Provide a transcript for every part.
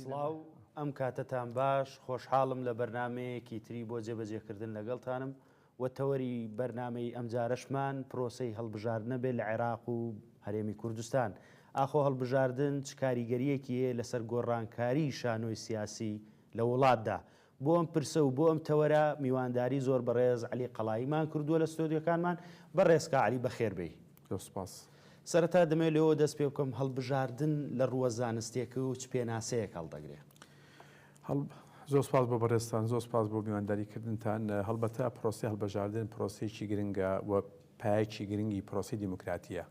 سڵاو ئەم کاتەتان باش خۆشحاڵم لە بەرنمەیەکی تری بۆ جێبەجێکردن لەگەڵتانم و تەوەری بەرنمەی ئەم جارەشمان پرۆسەی هەڵبژاردنە بێت لە عێراق و هەرێمی کوردستان ئاخۆ هەڵبژاردن چ کاریگەریەکی هەیە لەسەر گۆڕانکاری شانۆی سیاسی لە وڵاتدا بۆ ئەم پرسە و بۆ ئەم تەوەرە میوانداری زۆر بەڕێز عەلی قەڵایی مان کردووە لە ستۆدیۆکانمان، بەڕێز کا عەلی بەخێر بێی. زۆر سوپاس. سەرەتا دەمەوێت لەوەوە دەست پێ بکەم هەڵبژاردن لە ڕووە زانستێکەوە چ پێناسەیەک هەڵدەگرێ؟ هەڵ، زۆر سوپاس بۆ بەڕێزتان، زۆر سوپاس بۆ میوانداری کردنتان. هەڵبەتە پرۆسەی هەڵبژاردن پرۆسەیەکی گرنگە و پایەکی گرنگی پرۆسەی دیموکراتییە.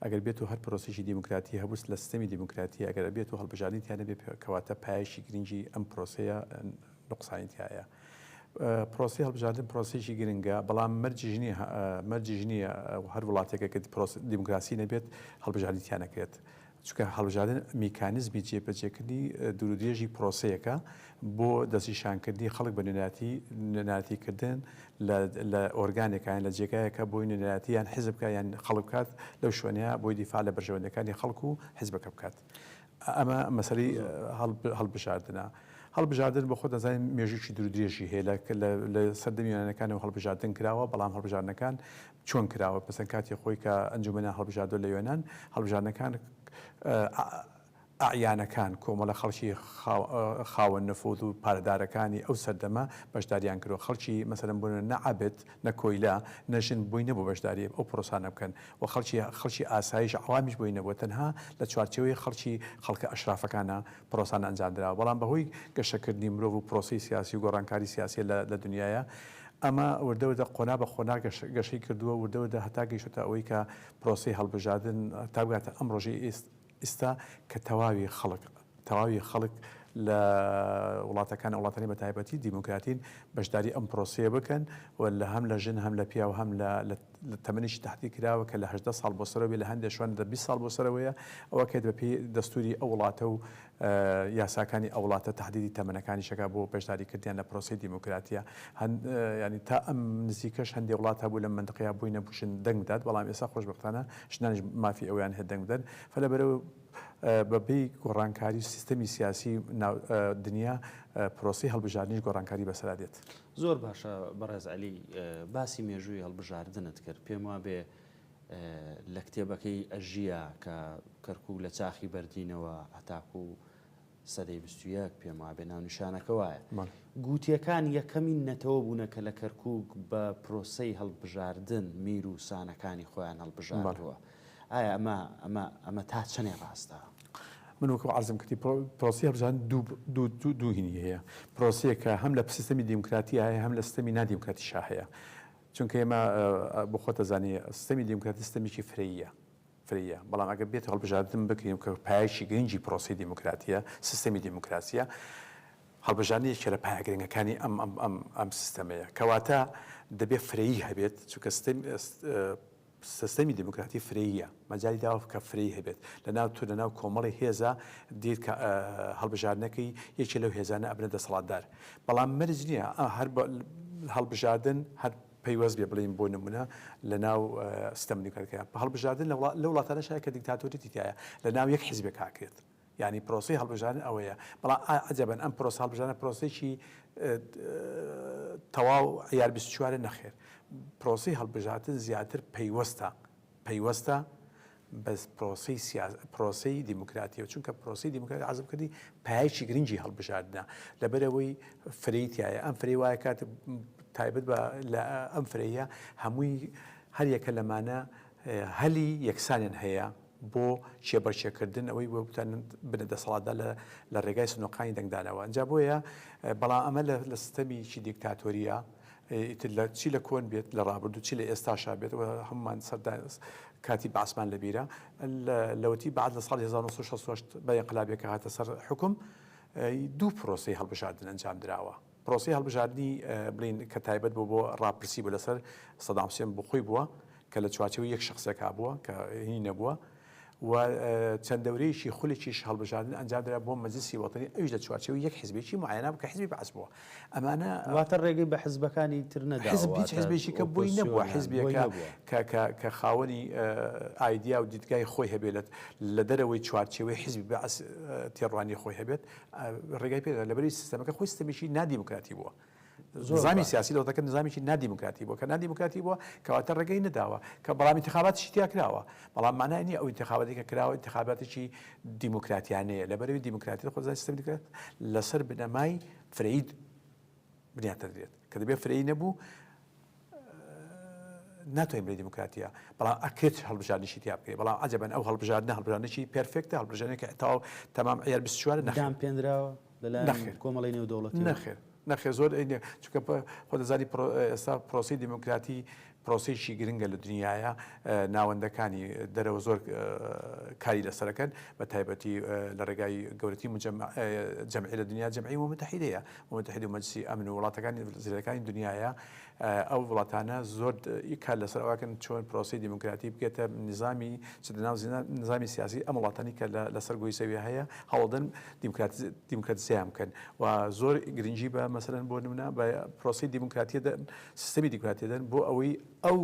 ئەگەر بێتو هەر پرۆسەیەکی دیموکراتی هەبووست لە سیستەمی دیموکراتی ئەگەر ئەبێتو هەڵبژاردنی تیا نەبێت کەواتە پایەکی گرنگی ئەم پرۆسەیە نوقسانی تیایە. پرۆسەی هەڵبژاردن پرۆسەیەکی گرنگە بەڵام مەرجیش نییە مەرجیش نییە هەر وڵاتێکە کە دیموکراسی نەبێت هەڵبژاردنی تیا نەکرێت. چونکە هەڵبژاردن میکانیزمی جێبەجێکردنی دوورودرێژی پرۆسەیەکە بۆ دەستنیشانکردنی خەڵک بە نوێنەتی نوێنەتیکردن لە ئۆرگانێکیان لە جێگایەکە بۆی نوێنەتی یان حزبکە یان خەڵک بکات لەو شوێنەیە بۆی دیفاع لە بەرژەوەندەکانی خەڵک و حزبەکە بکات ئەمە مەسەری هەڵبژاردنە. هەڵبژاردن بە خۆ دەزانین مێژووی درودرێژی هەیە لە سەردەمیانەکان و هەڵبژاردن کراوە بەڵام هەڵبژارنەکان چۆن کراوە پسن کاتی خۆی کە ئەنجومەنیان هەڵبژاردوە لە یۆنان هەڵبژاردنەکان ئەعیانەکان کۆمەڵە خەڵکی خاوەن نفوذ و پارەدارەکانی ئەو سەردەمە بەشداریان کردوە خەڵکی مەسەلەن بۆنە نە عەبد نە کۆیلە نە ژن بۆی نەبوە بەشداری ئەو پرۆسانە بکەن و خەڵکی خەڵکی ئاسایش عەوامیش بۆی نەبوە تەنها لە چوارچێوەی خەڵکی خەڵکە ئەشرافەکانە پرۆسان ئەنجامدراوە بەڵام بەهۆی گەشەکردنی مرۆڤ و پرۆسەی سیاسی و گۆڕانکاری سیاسیە لە دنیایا ئەمە وردە وردە قۆنا بە قۆنا گەشەی کردووە وردە وردە هەتا گەیشتە ئەوەی کە پرۆسەی هەڵبژاردن تا بگاتە ئەم ڕۆژەی ئیستا کە تەواوی خەڵک تەواوی خەڵک لە وڵاتەکان وڵاتانی بە تایبەتی دیموکراتین بەشداری ئەم پرۆسەیە بکەن و لە هەم لە ژن هەم لە پیاو هەم لە تەمەنێکی تەحدید کراوە کە لە هەژدە ساڵ بۆ سەرەوە بێت، لە هەندێک شوێن لە بیست ساڵ بۆ سەرەوەیە، ئەوە کە بەپێی دەستووری ئەو وڵاتە و یاساکانی ئەو وڵاتە تەحدیدی تەمەنەکانیش دەکات بۆ بەشداری کردنیان لە پرۆسەی دیموکراتییە. هەن یانی تا ئەم نزیکەش هەندێک وڵات هەبوو لەم مەنتقەیە بووی نەبوو ژن دەنگ بدات، بەڵام ئێستا خۆشبەختانە ژنانیش مافی ئەوەیان هەیە دەنگ بدەن. فە لەبەرئەوە بەپێی گۆڕانکاری سیستەمی سیاسی ناو دنیا پرۆسەی هەڵبژاردنیش گۆڕانکاری بەسەرا دێت. زۆر باشە بەڕێز عەلی باسی مێژووی هەڵبژاردنت کرد پێم وابێ لە کتێبەکەی ئەژیە کە کەرکوو لە چاخی بەردینەوە هەتاکو و سەدەی بستویەک پێم وابێ ناونیشانەکە وایە گووتەکان یەکەمین نەتەوە بوونە کە لە کەرکک بە پرۆسەی هەڵبژاردن میر و سانەکانی خۆیان هەڵبژاردووە. ئایا ئەمە ئەمە ئەمە تا چەنێ ڕاستە؟ من وەکو عەرزم کردی پرۆسی هەڵبژان دوو هینی هەیە پرۆسیەکە هەم لە سیستەمی دیموکراتی هەیە هەم لە سیستەمی نادیموکراتی شا هەیە چونکە ئێمە بخۆتە زانانی سیستەمی دیموکراتی سیستەمێکی فرەیە فرەیە بەڵام ئەگە بێت هەڵبژاردن بکرین کە پایشی گرنگی پرۆسی دیموکراتیە سیستەمی دیموکراسیە هەڵبژانی یەکێ لە پایگرنگەکانی ئەم ئەم ئەم ئەم سیستەمەیە کەواتە دەبێت فرەیی هەبێت چونکە سستەمی دیموکراتی فرەییە، مەجالی داوە کە فرەیی هەبێت. لەناو تۆ، لەناو کۆمەڵی هێزا دیت کە هەڵبژاردنەکەی یەکێ لەو هێزانە ئەبنە دەسەڵاتدار. بەڵام مەرج نییە هەر هەڵبژاردن هەر پەیوەست بێ بڵێین بۆ نمونە لەناو سستەم دیموکراتیکە. هەڵبژاردن لە وڵاتانەش هەیە کە دیکتاتۆریەتی تیایە لەناو یەک حیزبێکا ئەکرێت. یانی پرۆسەی هەڵبژاردن ئەوەیە، بەڵام ئا عەجەبەن ئەم پرۆسە هەڵبژاردنە پرۆسەیەکی تەواو عیار بیست و چوارە؟ نەخێر، پرۆسەی هەڵبژاردن زیاتر پەیوەستە پەیوەستە بە پرۆسەی سیا پرۆسەی دیموکراتیەوە، چونکە پرۆسەی دیموکراتی عەرزم کردی پایەکی گرنگی هەڵبژاردنە، لەبەرئەوەی فرەی تایە، ئەم فرەی وایە کات تایبەت بە لە ئەم فرەیە هەمووی هەر یەکە لەمانە هەلی یەکسانیان هەیە، بۆ کێبەرکێکردن ئەوەی وەبتوانن بنە دەسەڵاتدا لە ڕێگای سنوقانی دەنگدانەوە ئەنجا بۆیە بەڵام ئەمە لە سیستەمیکی دیکتاتۆریە ئیتر لە چی لە کۆن بێت لە ڕابردوو چی لە ئێستاشا بێت هەمومان سەردا کاتی باسمان لەبیرە لەوەتی بعد لە ساڵی 1960 بە انقلابێکە هاتە سەر حکم دوو پرۆسی هەڵبژاردن ئەنجام دراوە پرۆسەی هەڵبژاردنی بلین کە تایبەت بوو بۆ ڕاپرسی بوو لەسەر سەدام حوسێن بۆ خۆی بووە کە لە چوارچێوەی یەک شەخسێک هابووە کە هی نەبووە و چەند دەورەیەکی خولێکیش هەڵبژاردن ئەنجامدرا بۆ مەجلسی وەتەنی ئەویش لە چوارچێوەی یەک حزبێکی معەیەنە بوو کە حزبی بەعس بووە ئەمانە واتە ڕێگەی بە حزبەکانی تر نەداوە حزب هیچ حزبێکی کە بۆی نەبووە حزبێکە کە خاوەنی ئایدیا و دیدگای خۆی هەبێت لە دەرەوەی چوارچێوەی حزبی بەعس تێڕوانی خۆی هەبێت ڕێگای پێ دەدات، لەبەر ئەوەی سیستەمەکە خۆی سیستەمێکی نادیموکراتی بووە. نظامی سیاسی دەوڵەتەکە نظامێکی نادیموکراتی بووە، کە نادیموکراتی بووە کەواتە ڕێگەی نەداوە، کە بەڵام ئینتخاباتیشی تیا کراوە، بەڵام مانای نییە ئەو ئینتخاباتی کە کراوە ئینتخاباتێکی دیموکراتیانەیە، لەبەر ئەوەی دیموکراتی خۆزگا سیستەمی دیموکرات لەسەر بنەمای فرەیی بنیات دەدرێت کە دەبێت فرەیی نەبوو ناتوانین بڵێ دیموکراتیە بەڵام ئەکرێت هەڵبژاردنیشی تیا بکەیت بەڵام عجبەن ئەو هەڵبژاردنە هەڵبژاردنێکی پێرفێکتە هەڵبژاردنێکە تەواو تەمام عیار 24 نەخێر پێنراوە لەلایەن نەخێر. کۆمەڵی نێودەوڵەتی نەخێر نەخێ زۆر ئەینێ چونکە پە- خۆ دەزانی پرۆ- ئێستا پرۆسی دیموکراتی پرۆسەیەکی گرنگە لە دنیایە ناوەندەکانی دەرەوە زۆر کاری لەسەرەکەن بە تایبەتی لە ڕێگای گەورەتی جەمعی لە دنیا جەمعی ومتحیدەیە ومتحید و مەجسی ئەمن و وڵاتەکانی زیرەکانی دنیاە ئەو وڵاتانە زۆر کار لەسەر ئەوکەن چۆن پرۆسی دیموکراتی بگێتە نظامی چ لەناو نظامی سیاسی ئەم وڵاتانی کە لەسەر گۆی زەوی هەیە هەوڵدن دیموکراتزیان بکەن و زۆر گرنگی بە مەسەرەن بۆ نمونە بە پرۆسی دیموکراتیە سیستەمی دیکراتیدەن بۆ ئەوەی ئەو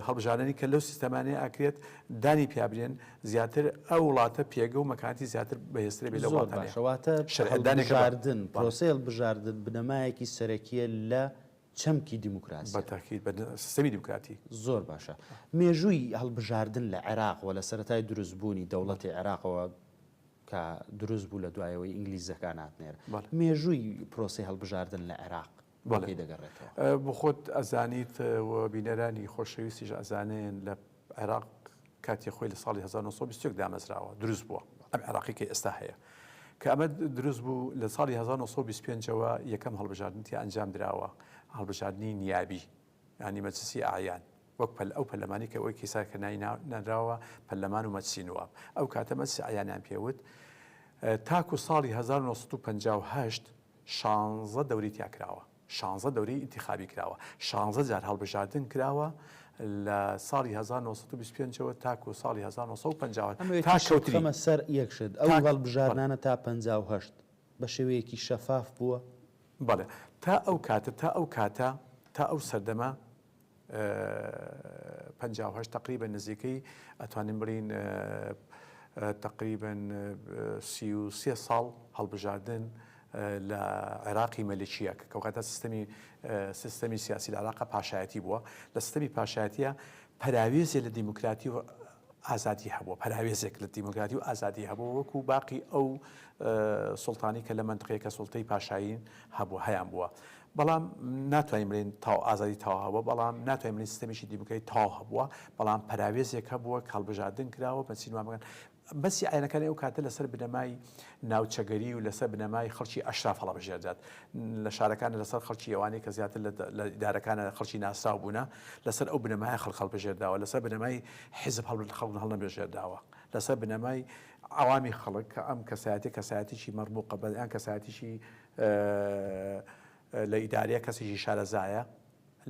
هەڵبژاردنی کە لەو سیستەمانەیە ئەکرێت دانی پیابرێن زیاتر ئەو وڵاتە پێگە و مەکانتی زیاتر بەهێسترە بێ لە وڵاتەشەواتە شەردانێکاردن پرۆسیل بژاردن بنەمایەکی سەرەکیە لە چەمکی دیموکراسی بەتاکیت بە سیستەمی دیموکراتی زۆر باشە مێژووی هەڵبژاردن لە عێراق و لە سەتای دروستبوونی دەوڵەتی عێراقەوە کە دروست بوو لە دوایەوەی ئینگلیزەکان هاتنێر مێژووی پرۆسی هەڵبژاردن لە عێراق بۆ کەی دەگەڕێتەوە؟ بەڵێ خۆت ئەزانیت و بینەرانی خۆشەویستیش ئەزانن لە عێراق کاتی خۆی لە ساڵی هەزار و نۆ سەد و بیست و یەک دامەزراوە دروست بووە ئەم عێراقی کە ئێستا هەیە کە ئەمە دروست بوو لە ساڵی هەزار و نۆ سەد و بیست و پێنج ەوە یەکەم هەڵبژاردن تیا ئەنجام دراوە هەڵبژاردنی نیابی یانی مەجلسی ئەعیان وەک پەل ئەو پەرلەمانی کە ئەوەی کیسار کە نای نانراوە پەرلەمان و مەجلسی نواب ئەو کاتە مەجلسی ئەعیانیان پێوت تاکو ساڵی هەزار و نۆ سەد و پەنجا و هەشت شانزە دەوری تیا کراوە، شانزە دەوری ئینتیخابی کراوە، شانزە جار هەڵبژاردن کراوە لە ساڵی هەزار نۆ سەد و بیست و پێنج ەوە تاکوو ساڵی هەزار نۆ سەد و پەنجا و هەشت ئەمەوێت تا ئیشەو کەوتنی بخەمە سەر یەک شت، ئەو تاک بەڵێ. هەڵبژاردنانە تا پەنجا و هەشت بە شێوەیەکی شەفاف بووە؟ بەڵێ. تا ئەو کاتە، تا ئەو کاتە، تا ئەو سەردەمە پەنجا و هەشت تەقریبەن نزیکەی ئەتوانین بڵێین تەقریبەن سی و سێ ساڵ هەڵبژاردن لە عێراقی مەلکیە کە کەوکاتە سیستەمی سیستەمی سیاسی لە عراقە پاشایەتی بووە لە سیستەمی پاشایەتە پەراوێزێ لە دیموکراتی و ئازادی هەبوو پەراوێزێک لە دیموکراتی و ئازادی هەبوو وەکو باقی ئەو سلتانی کە لە منتقەیە کە سلتەی پاشایین هەبوو هەیان بووە بەڵام ناتوانین بڵێین تاو ئازادی تاو هەبووە، بەڵام ناتوانین بڵێین سیستەمێکی دیموکراتی تاو هەبووە، بەڵام پەراوێزێک هەبووە کە هەڵبژاردن کراوە بە چین وا بکەن. بەسی ئاینەکانی ئەو کاتە لەسەر بنەمای ناوچەگەری و لەسەر بنەمای خەڵکی ئەشراف هەڵەبژێردات لە شارەکان لەسەر خەڵکی ئەوانەی کە زیاتر لە ئیدارەکانە خەڵکی ناسراو بوونە لەسەر ئەو بنەمای خەڵک هەڵبژێرداوە لەسەر بنەمای حیزب هەڵبن خەڵک هەڵنەبژێرداوە لەسەر بنەمای عوامی خەڵک کە ئەم کەسایەتی کەسایەتیی مەڕمووقە بەیان کەسایەتیی لە ئیدارەیە کەسێکی شارەزایە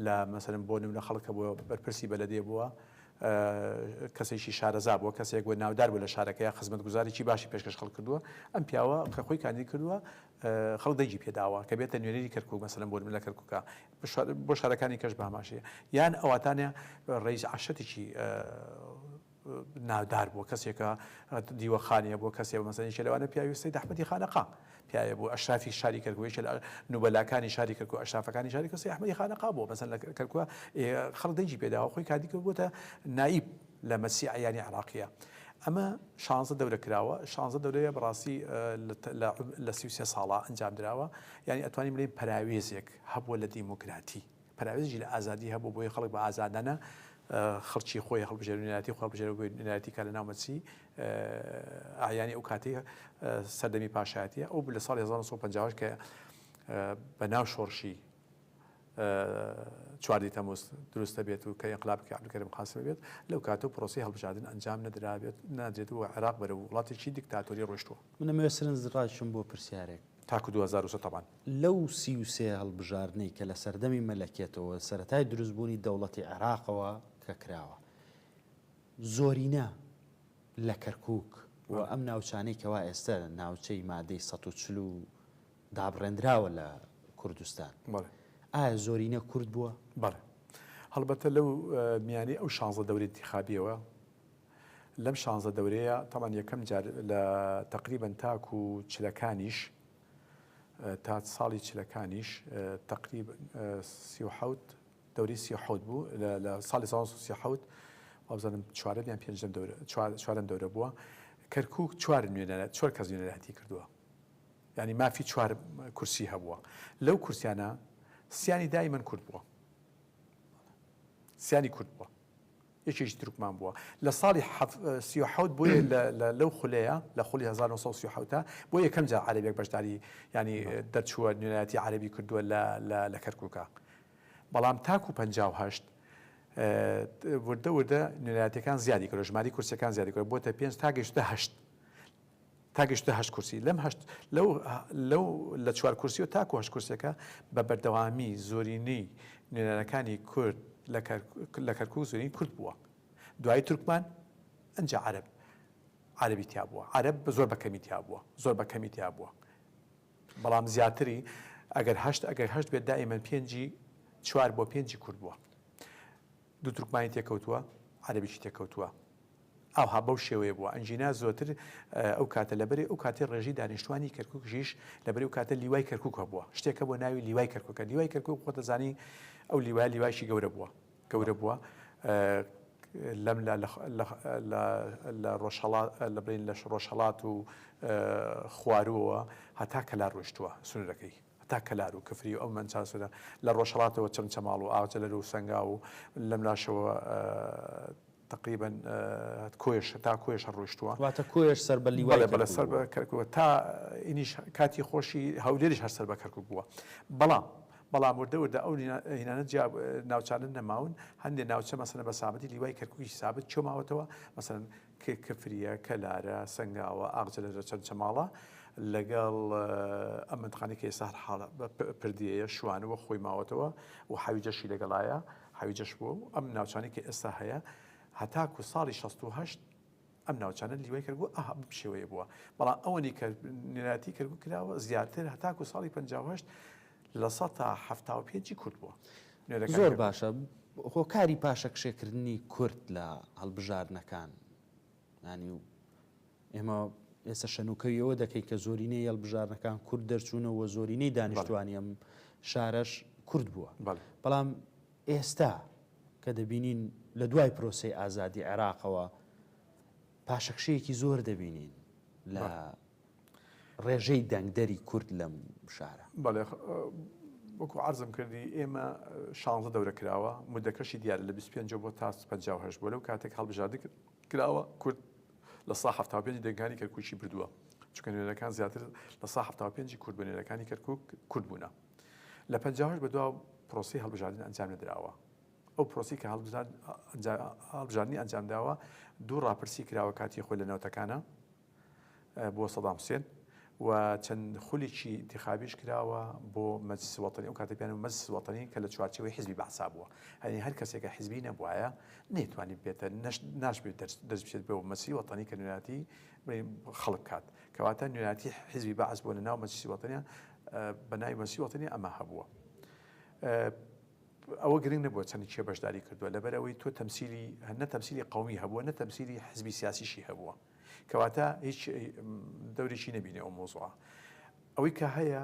لە مەسەلەن بۆ نمونە خەڵک کە بووە بەرپرسی بەلەدێ بووە کەسێکی شارەزا بووە کەسێک بووە ناودار بوو لە شارەکەی خزمەتگوزاریی باشی پێشکەش خەڵک کردووە ئەم پیاوە کە خۆی کاندید کردووە خەڵک دەگی پێداوە کە بێتە نوێنەری کەرکوک مەسەلەن بۆ لە کەرکوکە بۆ شارەکانی کەش باماشەیە یان ئەواتانە ڕیز عشتێکی ناودار بووە کەسێکە دیوەخانیە بۆ کەسێ مەسەن یەکێ لەوانە پیاوی سەید ئەحمەدی خانەقا پیاوێ بوو ئەشرافی شاری کەرکووک یەکێ لە نوبەلاکانی شاری کەرکووک ئەشرافەکانی شاری کەرکووک سەید ئەحمەدی خانەقا بووە مەسەن لە کەرکووک خەڵک دەنگی پێ داوە خۆی کاتی کرد بووتە نایب لە مەسی عەیانی عێراقییە ئەمە شانزە دەورە کراوە شانزە دەورەیە بەڕاستی لە سی و سێ ساڵە ئەنجام دراوە یعنی ئەتوانین بڵێین پەراوێزێک هەبووە لە دیموکراتی پەراوێزیی لە ئازادی هەبوو، بۆیە خەڵک بە ئازادانە خڕچی خۆی هەڵبژێرو نوێنەرایەتی خۆی هەڵبژێرێ بۆ نوێنەرایەتی کا لە ناو مەترسیی ئەعیانی ئەو کاتەی سەردەمی پاشایەتییە. ئەو لە ساڵی هەزار و نۆ سەد و پەنجا و هەشت کە بە ناو شۆڕشی چواردە تەمووز دروست دەبێت و کە ئینقلابەکەی عەبدولکەریم قاسم بێت، لەو کاتەو پرۆسەی هەڵبژاردن ئەنجام نەدرابێت، نادرێت و عێراق بەرەو وڵاتێکی دیکتاتۆری ڕۆیشتووە. من ئەمەوێت سەرنجڕاکێشم بۆ پرسیارێک. تاکو دوو هەزار و سێ تەبان لەو سی و سێ هەڵبژاردنەی کە لە سەردەمی مەلەکێتەوە سەرەتای دروست بوونی دەوڵەتی عێراقەوە کە کراوە زۆرینە لە کەرکوک و ئەم ناوچانەی کەوا ئێستە ناوچەی مادەی سەد و چل و دابڕێندراوە لە کوردستان بەڵێ ئایا زۆرینە کورد بووە؟ بەڵێ هەڵبەتە لەو میانەی ئەو شانزە دەوری ئینتیخابیەوە لەم شانزە دەورەیە تابان یەکەم جار لە تەقریبەن تاکو چلەکانیش تا ساڵی چلەکانیش تەقریب سی و حەوت دەوری سی حەوت بوو لە ساڵی سا سی حەوت وابزانم چوارەم یان پێنجم چوارم دەورە بووە کەرکک چوار نوێنەرە چوار کەس نوێنەرەتی کردووە ینی مافی چوار کورسی هەبووە لەو کورسیانە سیانی دای من کورد بووە سیانی کورد بووە یەکێکی تورکمان بووە لە ساڵی حەف سی و حەوت بۆیە لە لە لەو خولەیە لە خولی هەزار و نۆ سەد و سی و حەوت بۆ یەکەم جار عەرەبێک بەشداری یانی دەرچووە نوێنەرایەتی عەرەبی کردووە لە لە لە کەرکووکا بەڵام تاکوو پەنجا و هەشت وردە وردە نوێنەرایەتییەکان زیادی کردووە ژمارەی کورسییەکان زیادی کردووە بۆتە پێنج تا گەیشتە هەشت تا گەشتە هەشت کورسی، لەم هەشت لەو لەو لە چوار کورسیەوە تاکو هەشت کورسیەکە بە بەردەوامی زۆرینەی نوێنەرەکانی کورد لە لە کەرکوک زۆرین کورد بووە دوایی تورکمان ئەنجا عەرەب عەرەبی تیا بووە عەرەب بە زۆر بە کەمی تیا بووە زۆر بە کەمی تیا بووە بەڵام زیاتری ئەگەر هەشت ئەگەر هەشت بێت دائیمەن پێنجی چوار بۆ پێنجی کورد بووە دوو تورکمانی تێکەوتووە عەرەبیی تێکەوتووە ئاوها بەو شێوەیە بووە ئەنجینا زۆتر ئەو کاتە لە بەرێ ئەو کاتی ڕێژی دانیشتوانی کەرکوک ژیش لە بەرێ و کاتە لیوای کەرکوک هەبووە شتێکە بۆ ناوی لیوای کەرکوکە لیوای کەرکوک خۆ دەزانی ئەو لیوای لیوایشی گەورە بووە گەورە بووە لەم لە ڕۆژهڵات لە بین لە ڕۆژهڵات و خواروەوە هەتا کەلا ڕۆشتووە سنورەکەی تا کەلار و کفری و ئەو منچاسرە لە ڕۆژهڵاتەوە چەمچەماڵ و ئاغجە لەرو سەنگا و لەم لاشەوە تەقریبەن کۆیەش هەتا کۆیەش هەر ڕۆیشتووە. واتە کۆیەش سەر بە لیوای کەرکووک بووە. بەڵێ بەڵێ سەر بە کەرکووک بووە تا ئینیش کاتی خۆشی هەولێریش هەر سەر بە کەرکووک بووە. بەڵام بەڵام وردە وردە ئەو هینانە جیا ناوچانە نەماون هەندێ ناوچە مەسەلەن بە سابەتی لیوای کەرکووکیش سابەت چۆ ماوەتەوە مەسەلەن کفریە، کەلارە، سەنگاوە، ئاغجەلە لە چەمچەماڵە لەگەڵ ئەم مەنتقانەی کە ئێستا هەر حاڵە پردێیە شوانووە خۆی ماوەتەوە و حەویجەشی لەگەڵایە. حەویجەش بووە و ئەم ناوچانەی کە ئێستا هەیە هەتاکو ساڵی شەست و هەشت ئەم ناوچانە لیوای کەرگوو ئه بەم شێوەیە بووە بەڵام ئەوەنی کە نێراتی کەرگوو کراوە زیاتر هەتاکو ساڵی پەنجا و هەشت لە سەتا حەفتا و پێنجی کورد بووە نوێرەکانی زۆر کەرکووک. باشە هۆکاری پاشەکشێکردنی کورد لە هەڵبژاردنەکان ینی و ئێمە ئێستا شەنوکەوی ئەوە دەکەین کە زۆرینەی هێڵبژارنەکان کورد دەرچوونەوە و زۆرینەی دانیشتوانی ئەم شارەش کورد بووە بەڵام ئێستا کە دەبینین لە دوای پرۆسی ئازادی عێراقەوە پاشەکشەیەکی زۆر دەبینین لە ڕێژەی دەنگدەری کورد لەم شارە بەڵێ وەکو عرضم کردی ئێمە شانزە دەورە کراوە مدەکەشی دیارە لە 25 بۆ تا 5 بۆ لەو کاتێک هەڵبژاردن کراوە کورد لە سەدا حەفتا و پێنج دەنگانی کەرکوکی بردووە، چونکە نوێنەرەکان زیاتر لە سەدا حەفتا و پێنج کورد بە نوێنەرەکانی کەرکوک کورد بوونە. لە پەنجا و هەشت بەدوا پرۆسەی هەڵبژاردن ئەنجام نەدراوە. ئەو پرۆسەی کە هەڵبژاردنی ئەنجام داوە، دوو ڕاپرسی کراوە کاتی خۆی لە نەوەتەکانا بۆ سەدام حوسێن و چەند خولێکی ئینتیخابیش کراوە بۆ مەجلسی وەتەنی، ئەو کاتە پێیان وت مەجلسی وەتەنی کە لە چوارچێوەی حیزبی بەعسا بووە، یانی هەر کەسێک کە حیزبی نەبوایە نەیتوانی ببێتە نەش ناشبێت دەست بچێت بۆ مەجلسی وەتەنی کە نوێنەراتی خەڵک بکات، کەواتە نوێنەراتی حیزبی بەعس بۆ لە ناو مەجلسی وەتەنیا بە ناوی مەجلسی وەتەنی ئەمە هەبووە. ئەوە گرنگ نەبووە چەند کێ بەشداری کردووە، لەبەر ئەوەی تۆ تەمسیلی نە تەمسیلی قەومی هەبووە نە تەمسیلی حیزبی سیاسیشی هەبووە، کەواتە هیچ دەورێکی نەبینێ ئەو مۆزوعە ئەوەی کە هەیە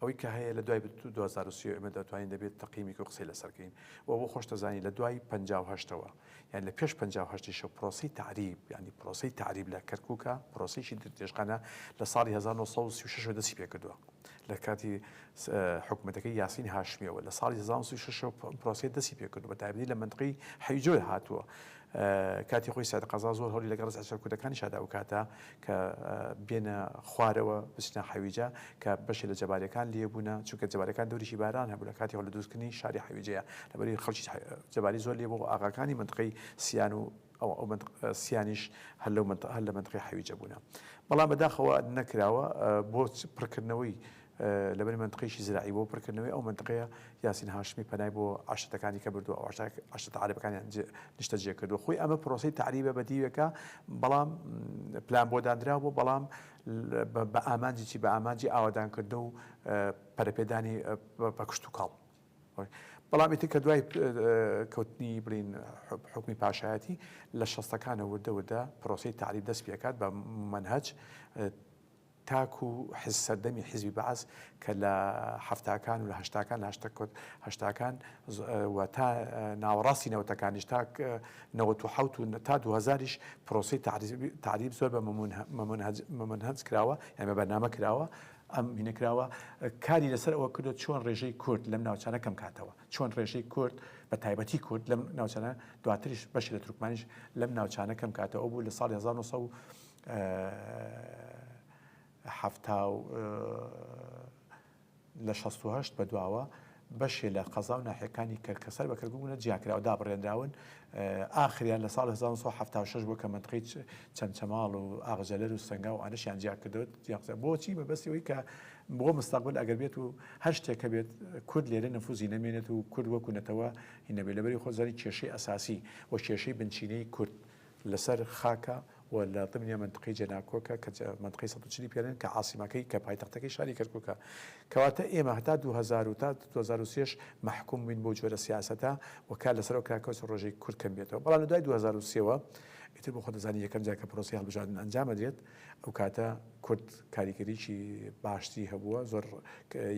ئەوەی کە هەیە لە دوای 2023 ئێمە دەتوانین دەبێت تەقیمێک و قسەی لەسەرکەین و بۆ خۆشتەزانی لە دوای 1950ەوە یان لە پێش 1950شە پرۆسی تعریب ینی پرۆسی تعریب لە کەرکووکە پرۆسیی درێژخانە لە ساڵی 1936 دەسی پێکردووە لە کاتی حکوومەتەکەی یاسین هاشمیەوە لە ساڵی 1936 پرۆسی دەستی پێکردو بە تایبەتی لە منتقی حیجۆی هاتووە کاتی خۆی سعد قەزا زۆر هەولی لەگەڵ ڕز عشر کوردەکانی شادا و کاتە کە بێنە خوارەوە بچنە حەویجە کە بەشی لە جەبارەکان لێبوونە چونکە جەبارەکان دەوریشی باران هەبوو لە کاتی هەولی دروستکردنی شاری حەویجەیە لەبەری خەڵکی جەباری زۆر لێبوو ئاغاکانی منتقی سیان و ئەو ئەو مەنتق سیانیش هەر لەو مەنتق هەر لە مەنتقی حەویجە بوونە بەڵام بەداخەوە نەکراوە بۆ پڕکردنەوەی لەبەر مەنتقیشی زراعی بۆ پڕکردنەوەی ئەو مەنتقەیە یاسین هاشمی پەنای بۆ عشتەکانی کە بردو عشت عربەکانیان نیشتە جێ کردو خۆی ئەمە پرۆسی تعریبە بە دیوێکە بەڵام پلان بۆ دانرا بۆ بەڵام بە ئامانجی چی بە ئامانجی ئاوادانکردن و پەرەپێدانی پەکشت و کاڵ بەڵام ئیتر کە دوای کەوتنی بڵێین حوکمی پاشایەتی لە شەستەکانە وردە وردە پرۆسەی تەعریب دەست پێ ئەکات بە مەنهەج تاکو حز سەردەمی حزبی بەعس کە لە حەفتاکان و لە هەشتاکان لاشتە کۆت هەشتاکان و تا ناوەڕاستی نەوتەکانیش تا نەوەت و حوت و تا دوهزاریش پرۆسی تعریب زۆر بە مەمنهج کراوە یان بە بەرنامە کراوە ئەم مینەکراوە کاری لەسەر ئەوە کردوە چۆن ڕێژەی کورد لەم ناوچانە کەم کاتەوە چۆن ڕێژەی کورد بە تایبەتی کورد لەم ناوچانە دواتریش بەشی لە تورکمانیش لەم ناوچانە کەم کاتەوە بوو لە ساڵ 1970 لە 16 بە دواوە بەشێ لە قەزا و ناحیەکانی کەرک کە سەر بە کەرکوک بوونە جیاکراو دابڕێنراون، ئاخریان لە ساڵی هەزار و نۆ سەد و حەفتا و شەش بووە کە مەنتقەی چەمچەماڵ و ئاغجەلەر و سەنگاو و ئانەشیان جیاکردەوە، بۆچی؟ بەمەبەستی ئەوەی کە بۆ مستەقبل ئەگەر بێت و هەر شتێک هەبێت کورد لێرە نفوزی نەمێنێت و کورد وەکو نەتەوە هی نەبێت، لەبەری خۆت دەزانی کێشەی ئەساسی و کێشەی بنچینەی کورد لەسەر خاکە و لە ضمنیا مەنتقەی جەناکۆکە کە مەنتقەی سەد و چل ی پێنن کە عاسیمەکەی کە پایتەختەکەی شاری کەرکوکە کەواتە ئێمە هەتا دوو هەزار و تا دوو هەزار و سێ ش مەحکوم بووین بەو جۆرە سیاسەتە و کار لەسەرەوە کرا کەوتە ڕۆژێک کورد کەم بێتەوە بەڵام لە دوای دوو هەزار و سێ وە ئیتر بۆ خۆت دەزانی یەکەم جار کە پرۆسەی هەڵبژاردن ئەنجام ئەدرێت ئەو کاتە کورد کاریگەریی باشتری هەبووە زۆر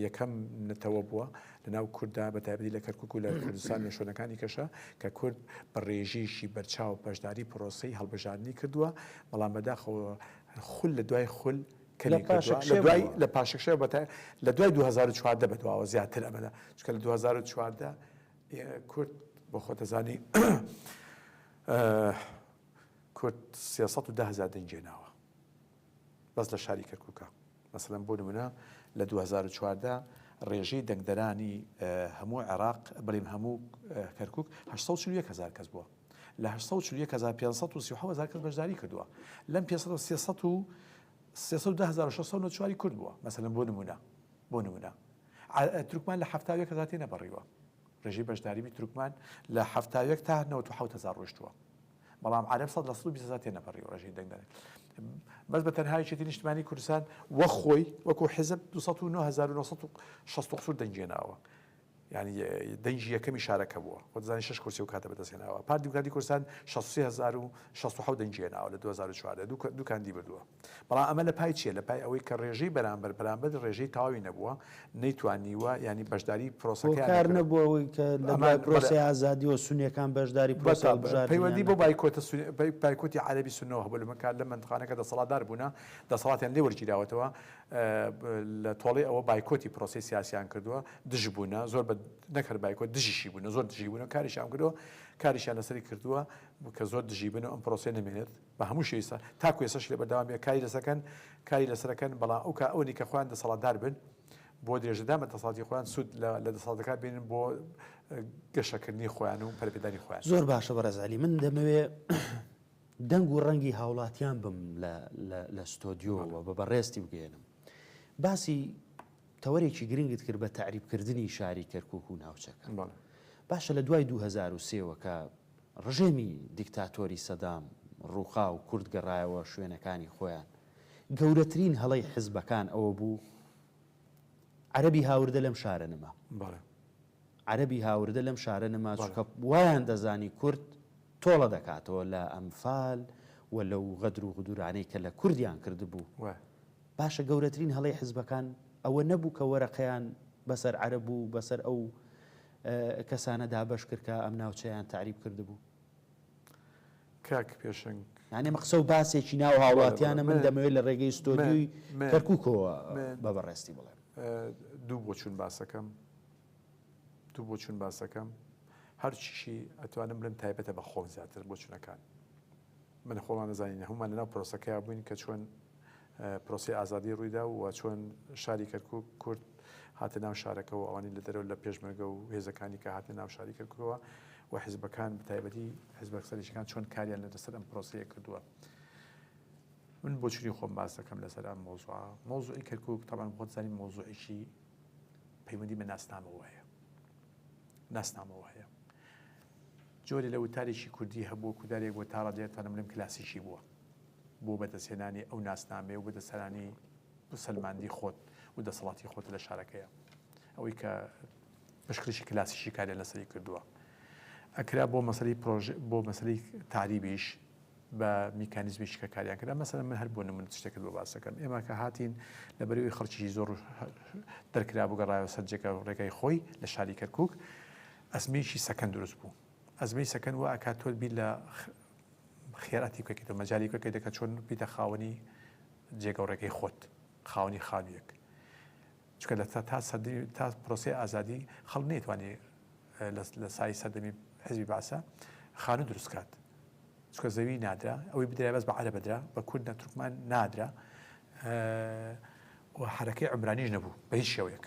یەکەم نەتەوە بووە لە ناو کورددا بە تایبەتی لە کەرکوک و لە کوردستان نێشۆنەکانی کەشە کە کورد بە ڕێژەیەکی بەرچاو بەشداری پرۆسەی هەڵبژاردنی کردووە بەڵام بەداخەوە خول لە دوای خول کەمی کردووە لە دوای لە پاشەکشێ بەتە لە دوای 2014 بە دواوە زیاتر ئەمەدا چکە لە 2014 کورد بۆ خۆتەزانی کورد 310 هزار دەنگێناوە بەس لە شاری کەرکوکە مەسەلەن بۆ نمونە لە دوو هەزار و چواردە ڕێژەی دەنگدەرانی هەموو عێراق بڵێم هەموو کەرکک هزار کەس بووە لە هزار کەس بەشداری کردووە لەم پێ چواری کورد بووە مەسەلەن بۆ نمونە بۆ نمونە ترکمان لە هزار تێ نەپەڕیوە ڕێژەی بەشداریی تورکمان لە حەفتا و یەک تا نەوەد و حەوت هەزار ڕۆیشتووە، بەڵام عەرەب سەد لە سەد و بیست هەزار تێنەپەڕیوە ڕێژەی دەنگدەرەکە. بەس بە تەنها یەکێتی نیشتمانیی کوردستان وەک خۆی، وەکو حیزب دوو سەد و نۆ هەزار و نۆ سەد و شەست و قوسوور دەنگی هێناوە، یانی دەنگی یەکەمی شارەکە بووە، خۆت دەزانی شەش کورسی ئەو کاتە بەدەست هێناوە. پارتی دیموکراتی کوردستان شەست و سێ هەزار و شەست و حەوت دەنگی هێناوە لە دوو هەزار و چواردە، دوو کاندی بردووە. بەڵام ئەمە لە پای چیە؟ لە پای ئەوەی کە رێژەی بەرامبەر بەرامبەر رێژەی تەواوی نەبووە، نەیتوانیوە یانی بەشداری پرۆسەکەیان نەکردووە. هۆکار نەبووە ئەوەی کە لە دوای پرۆسەی ئازادیەوە سوننەکان بەشداری پرۆسەی هەڵبژاردنیان نەکرد. پەیوەندی بەو بایکۆتە سوننە، بایکۆتی عەرەبی سوننەوە هەبووە لە کات لەم مەنتقانە کە دەسەڵاتدار بوونە، دەسەڵاتیان لێ وەرگیراوەتەوە، لە تۆڵەی ئەوە بایکۆتی پرۆسەی سیاسیان کردووە، دژ بوونە، زۆر بە نەک هەر بایکۆت دژیشی بوونە، زۆر دژی بوونە، کاریشیان کردووە، کاریشیان لەسەری کردووە کە زۆر دژی بن و ئەم پرۆسەیە نەمێنێت. بە هەموو شێوەی سا تاکو ئێسەش لێ بەردەوامیە کاری لەسەر کەن کاری لەسەر ئەکەن بەڵام ئەو کا ئەوەنی کە خۆیان دەسەڵاتدار بن بۆ درێژەدان بە دەسەڵاتی خۆیان سود لە لە دەسەڵاتەکە بینن بۆ گەشەکردنی خۆیان و پەرەپێدانی خۆیان. زۆر باشە بەڕێز عەلی من دەمەوێ دەنگ و ڕەنگی هاوڵاتیان بم لە لە لە ستۆدیۆوە بە بەڕێزتی بگەێنم باسی تەوەرێکی گرنگت کرد بە تەعریبکردنی شاری کەرکک و ناوچەکە باشە لە دوای 2023ەوە کە ڕژێمی دیکتاتۆری سەدام ڕووخا و کورد گەڕایەوە شوێنەکانی خۆیان، گەورەترین هەڵەی حزبەکان ئەوە بوو عەرەبی هاوردە لەم شارە نما. بەڵێ. عەرەبی هاوردە لەم شارە نما، چونکە وایان دەزانی کورد تۆڵە دەکاتەوە لە ئەنفال و لەو غەدر و غدورانەی کە لە کوردیان کردبوو. وایە. باشە گەورەترین هەڵەی حزبەکان ئەوە نەبوو کە وەرەقەیان بەسەر عەرەب و بەسەر ئەو کەسانە دابەش کرد کە ئەم ناوچەیان تەعریب کردبوو. کاک پێشەنگ. یانی ئەمە قسە و باسێکی ناو هاوڵاتیانە من دەمەوێت لە ڕێگەی ستۆدیۆی کەرکوکەوە بە بەڕێزتی بڵێم. دوو بۆچوون باسەکەم، دوو بۆچوون باسەکەم، هەرچیشی ئەتوانم بڵێم تایبەتە بە خۆم زیاتر بۆچوونەکان. من خۆمان دەزانین هەموومان لەناو پرۆسەکەیا بووین کە چۆن پرۆسەی ئازادی ڕوویدا و چۆن شاری کەرکوک کورد هاتە ناو شارەکە و ئەوانی لە دەرەوە لە پێشمەرگە و هێزەکانی کە هاتنە ناو شاری کەرکوکەوە و حزبەکان بەتایبەتی حزبەک سەرشکان چۆن کاریان لە دەسەر ئەم پرۆسەیە کردووە من بۆچوی خۆم باس دەکەم لەسەر ئەم مۆزوع مۆزوعی کەرکک تاوان بۆت زانین مۆزوعیشی پەیوەندی بە ناسنامەوە هەیە ناسنامەوە هەیە جۆرێ لە وتارێکی کوردی هەبووە کودارێک بۆ تاڕە دێت تەنم لم کلاسیکی بووە بۆ بەدەستهێنانی ئەو ناسنامەیە و بەدەستهێنانی بسەلماندی خۆت و دەسەڵاتی خۆت لە شارەکەیە ئەوەی کە پشکریی کلاسیکی کاریان لەسەری کردووە ئەکرا بۆ مەسەری پرۆژ بۆ مەسەری تاریبیش بە میکانیزمی شکەکاریان کرا مەسەر من هەر بۆ نمون شتێکت بۆ باسەکەم ئێمە کە هاتین لە بەرەوەی خەڵکی زۆر دەرکرا بگەڕایەوە سەرجێکە ڕێگای خۆی لە شاری کەرکک ئەزمەیەکی سەکەن دروست بوو ئەزمەی سەکەن وا ئەکات تۆت بیر لە خێراتی بکەیت و مەجای بکەیت دەکە چۆن بیتە خاوەنی جێگە و ڕێگەی خۆت خاوەنی خانوویەک چکە لە تا سەدی تا پرۆسی ئازادی خەڵ نێتوانێت لە سای سەردەمی حزبی باسە خانوو دروستکات چکە زەوی نادرا ئەوەی بدرای بەس بە عرە بدرا بە کورد نە تورکمان نادرا و حرەکەی عمرانیش نەبوو بە هیچ شێوەیەک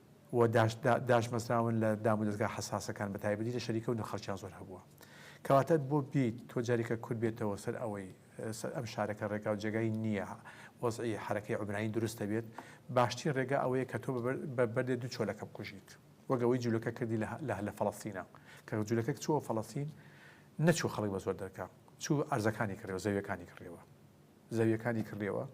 و داشداشبەستراون لە دامودەزگا حەساسەکان بەتایبەتی لە شەریکەو نرخەڵکیان زۆر هەبووە کەواتە بۆ بیت تۆ جاریکە کورد بێتەوە سەر ئەوەی سەر ئەم شارەکە ڕێگاو جێگای نییە وەزعی حرەکەی عمرانی دروستە بێت باشترین ڕێگا ئەوەیە کە تۆ بە بەردێ دوو چۆلەکە بکوژیت وەگەوەی جوولەکە کردی لە لە فەڵەستینە کە جوولەکە چووە فەڵەستین نەچوو خەڵک بە زۆر دەرکە چوو ئەرزەکانی کڕیەوە زەویەکانی کڕیەوە زەویەکانی کڕیەوە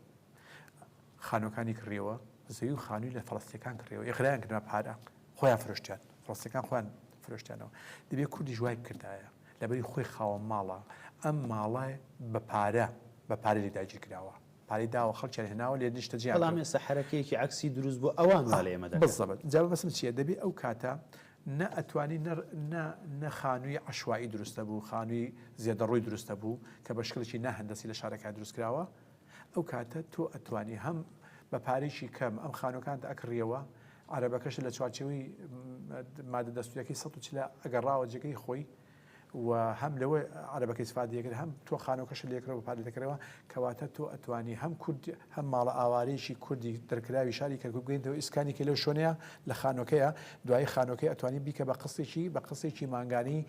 خانوەکانی کڕیەوە زەوی و خانووی لە فەڵستیەکان کڕیەوە ئقرایان کردە پارە خۆیان فرۆشتیان فڵستەکان خۆیان فرۆشتیانەوە دەبێت کوردی ژوای بکردایە لەبەری خۆی خاوە ماڵە ئەم ماڵە بە پارە بە پارە لێ داگیر کراوە پارەی داوە خەڵکیان هێناوە لێ نیشتە جیان بەڵام ئێستا حرەکەیەکی عکسی دروست بۆ ئەوان لە ئێمە بزەبت جا بەسم چیە دەبێت ئەو کاتە نە ئەتوانی نە نە نە خانووی عەشوائی دروست دەبوو، خانووی زێدەڕۆی دروست دەبوو کە بە شکلێکی نا هەندەسی لە شارەکە دروست کراوە. ئەو کاتە تۆ ئەتوانی هەم بە پارەیەکی کەم ئەم خانووەکانت ئەکڕیەوە، عەرەبەکەشت لە چوارچێوەی مادە دەستوورییەکەی سەد و چل ئەگەڕاوە جێگەی خۆی، و هەم لەوە عەرەبەکەی سفادە دەکرد هەم تۆ خانوەکەشت لێکڕەوە بە پارە دەکرەوە کەواتە تۆ ئەتوانی هەم کورد هەم ماڵە ئاوارەیەکی کوردی دەرکراوی شاری کەرکوک بگەینتەوە ئیسکانی کە لەو شوێنەیە لە خانوەکەیە دوایی خانوەکەی ئەتوانی بیکە بە قسێکی بە قسێکی مانگانی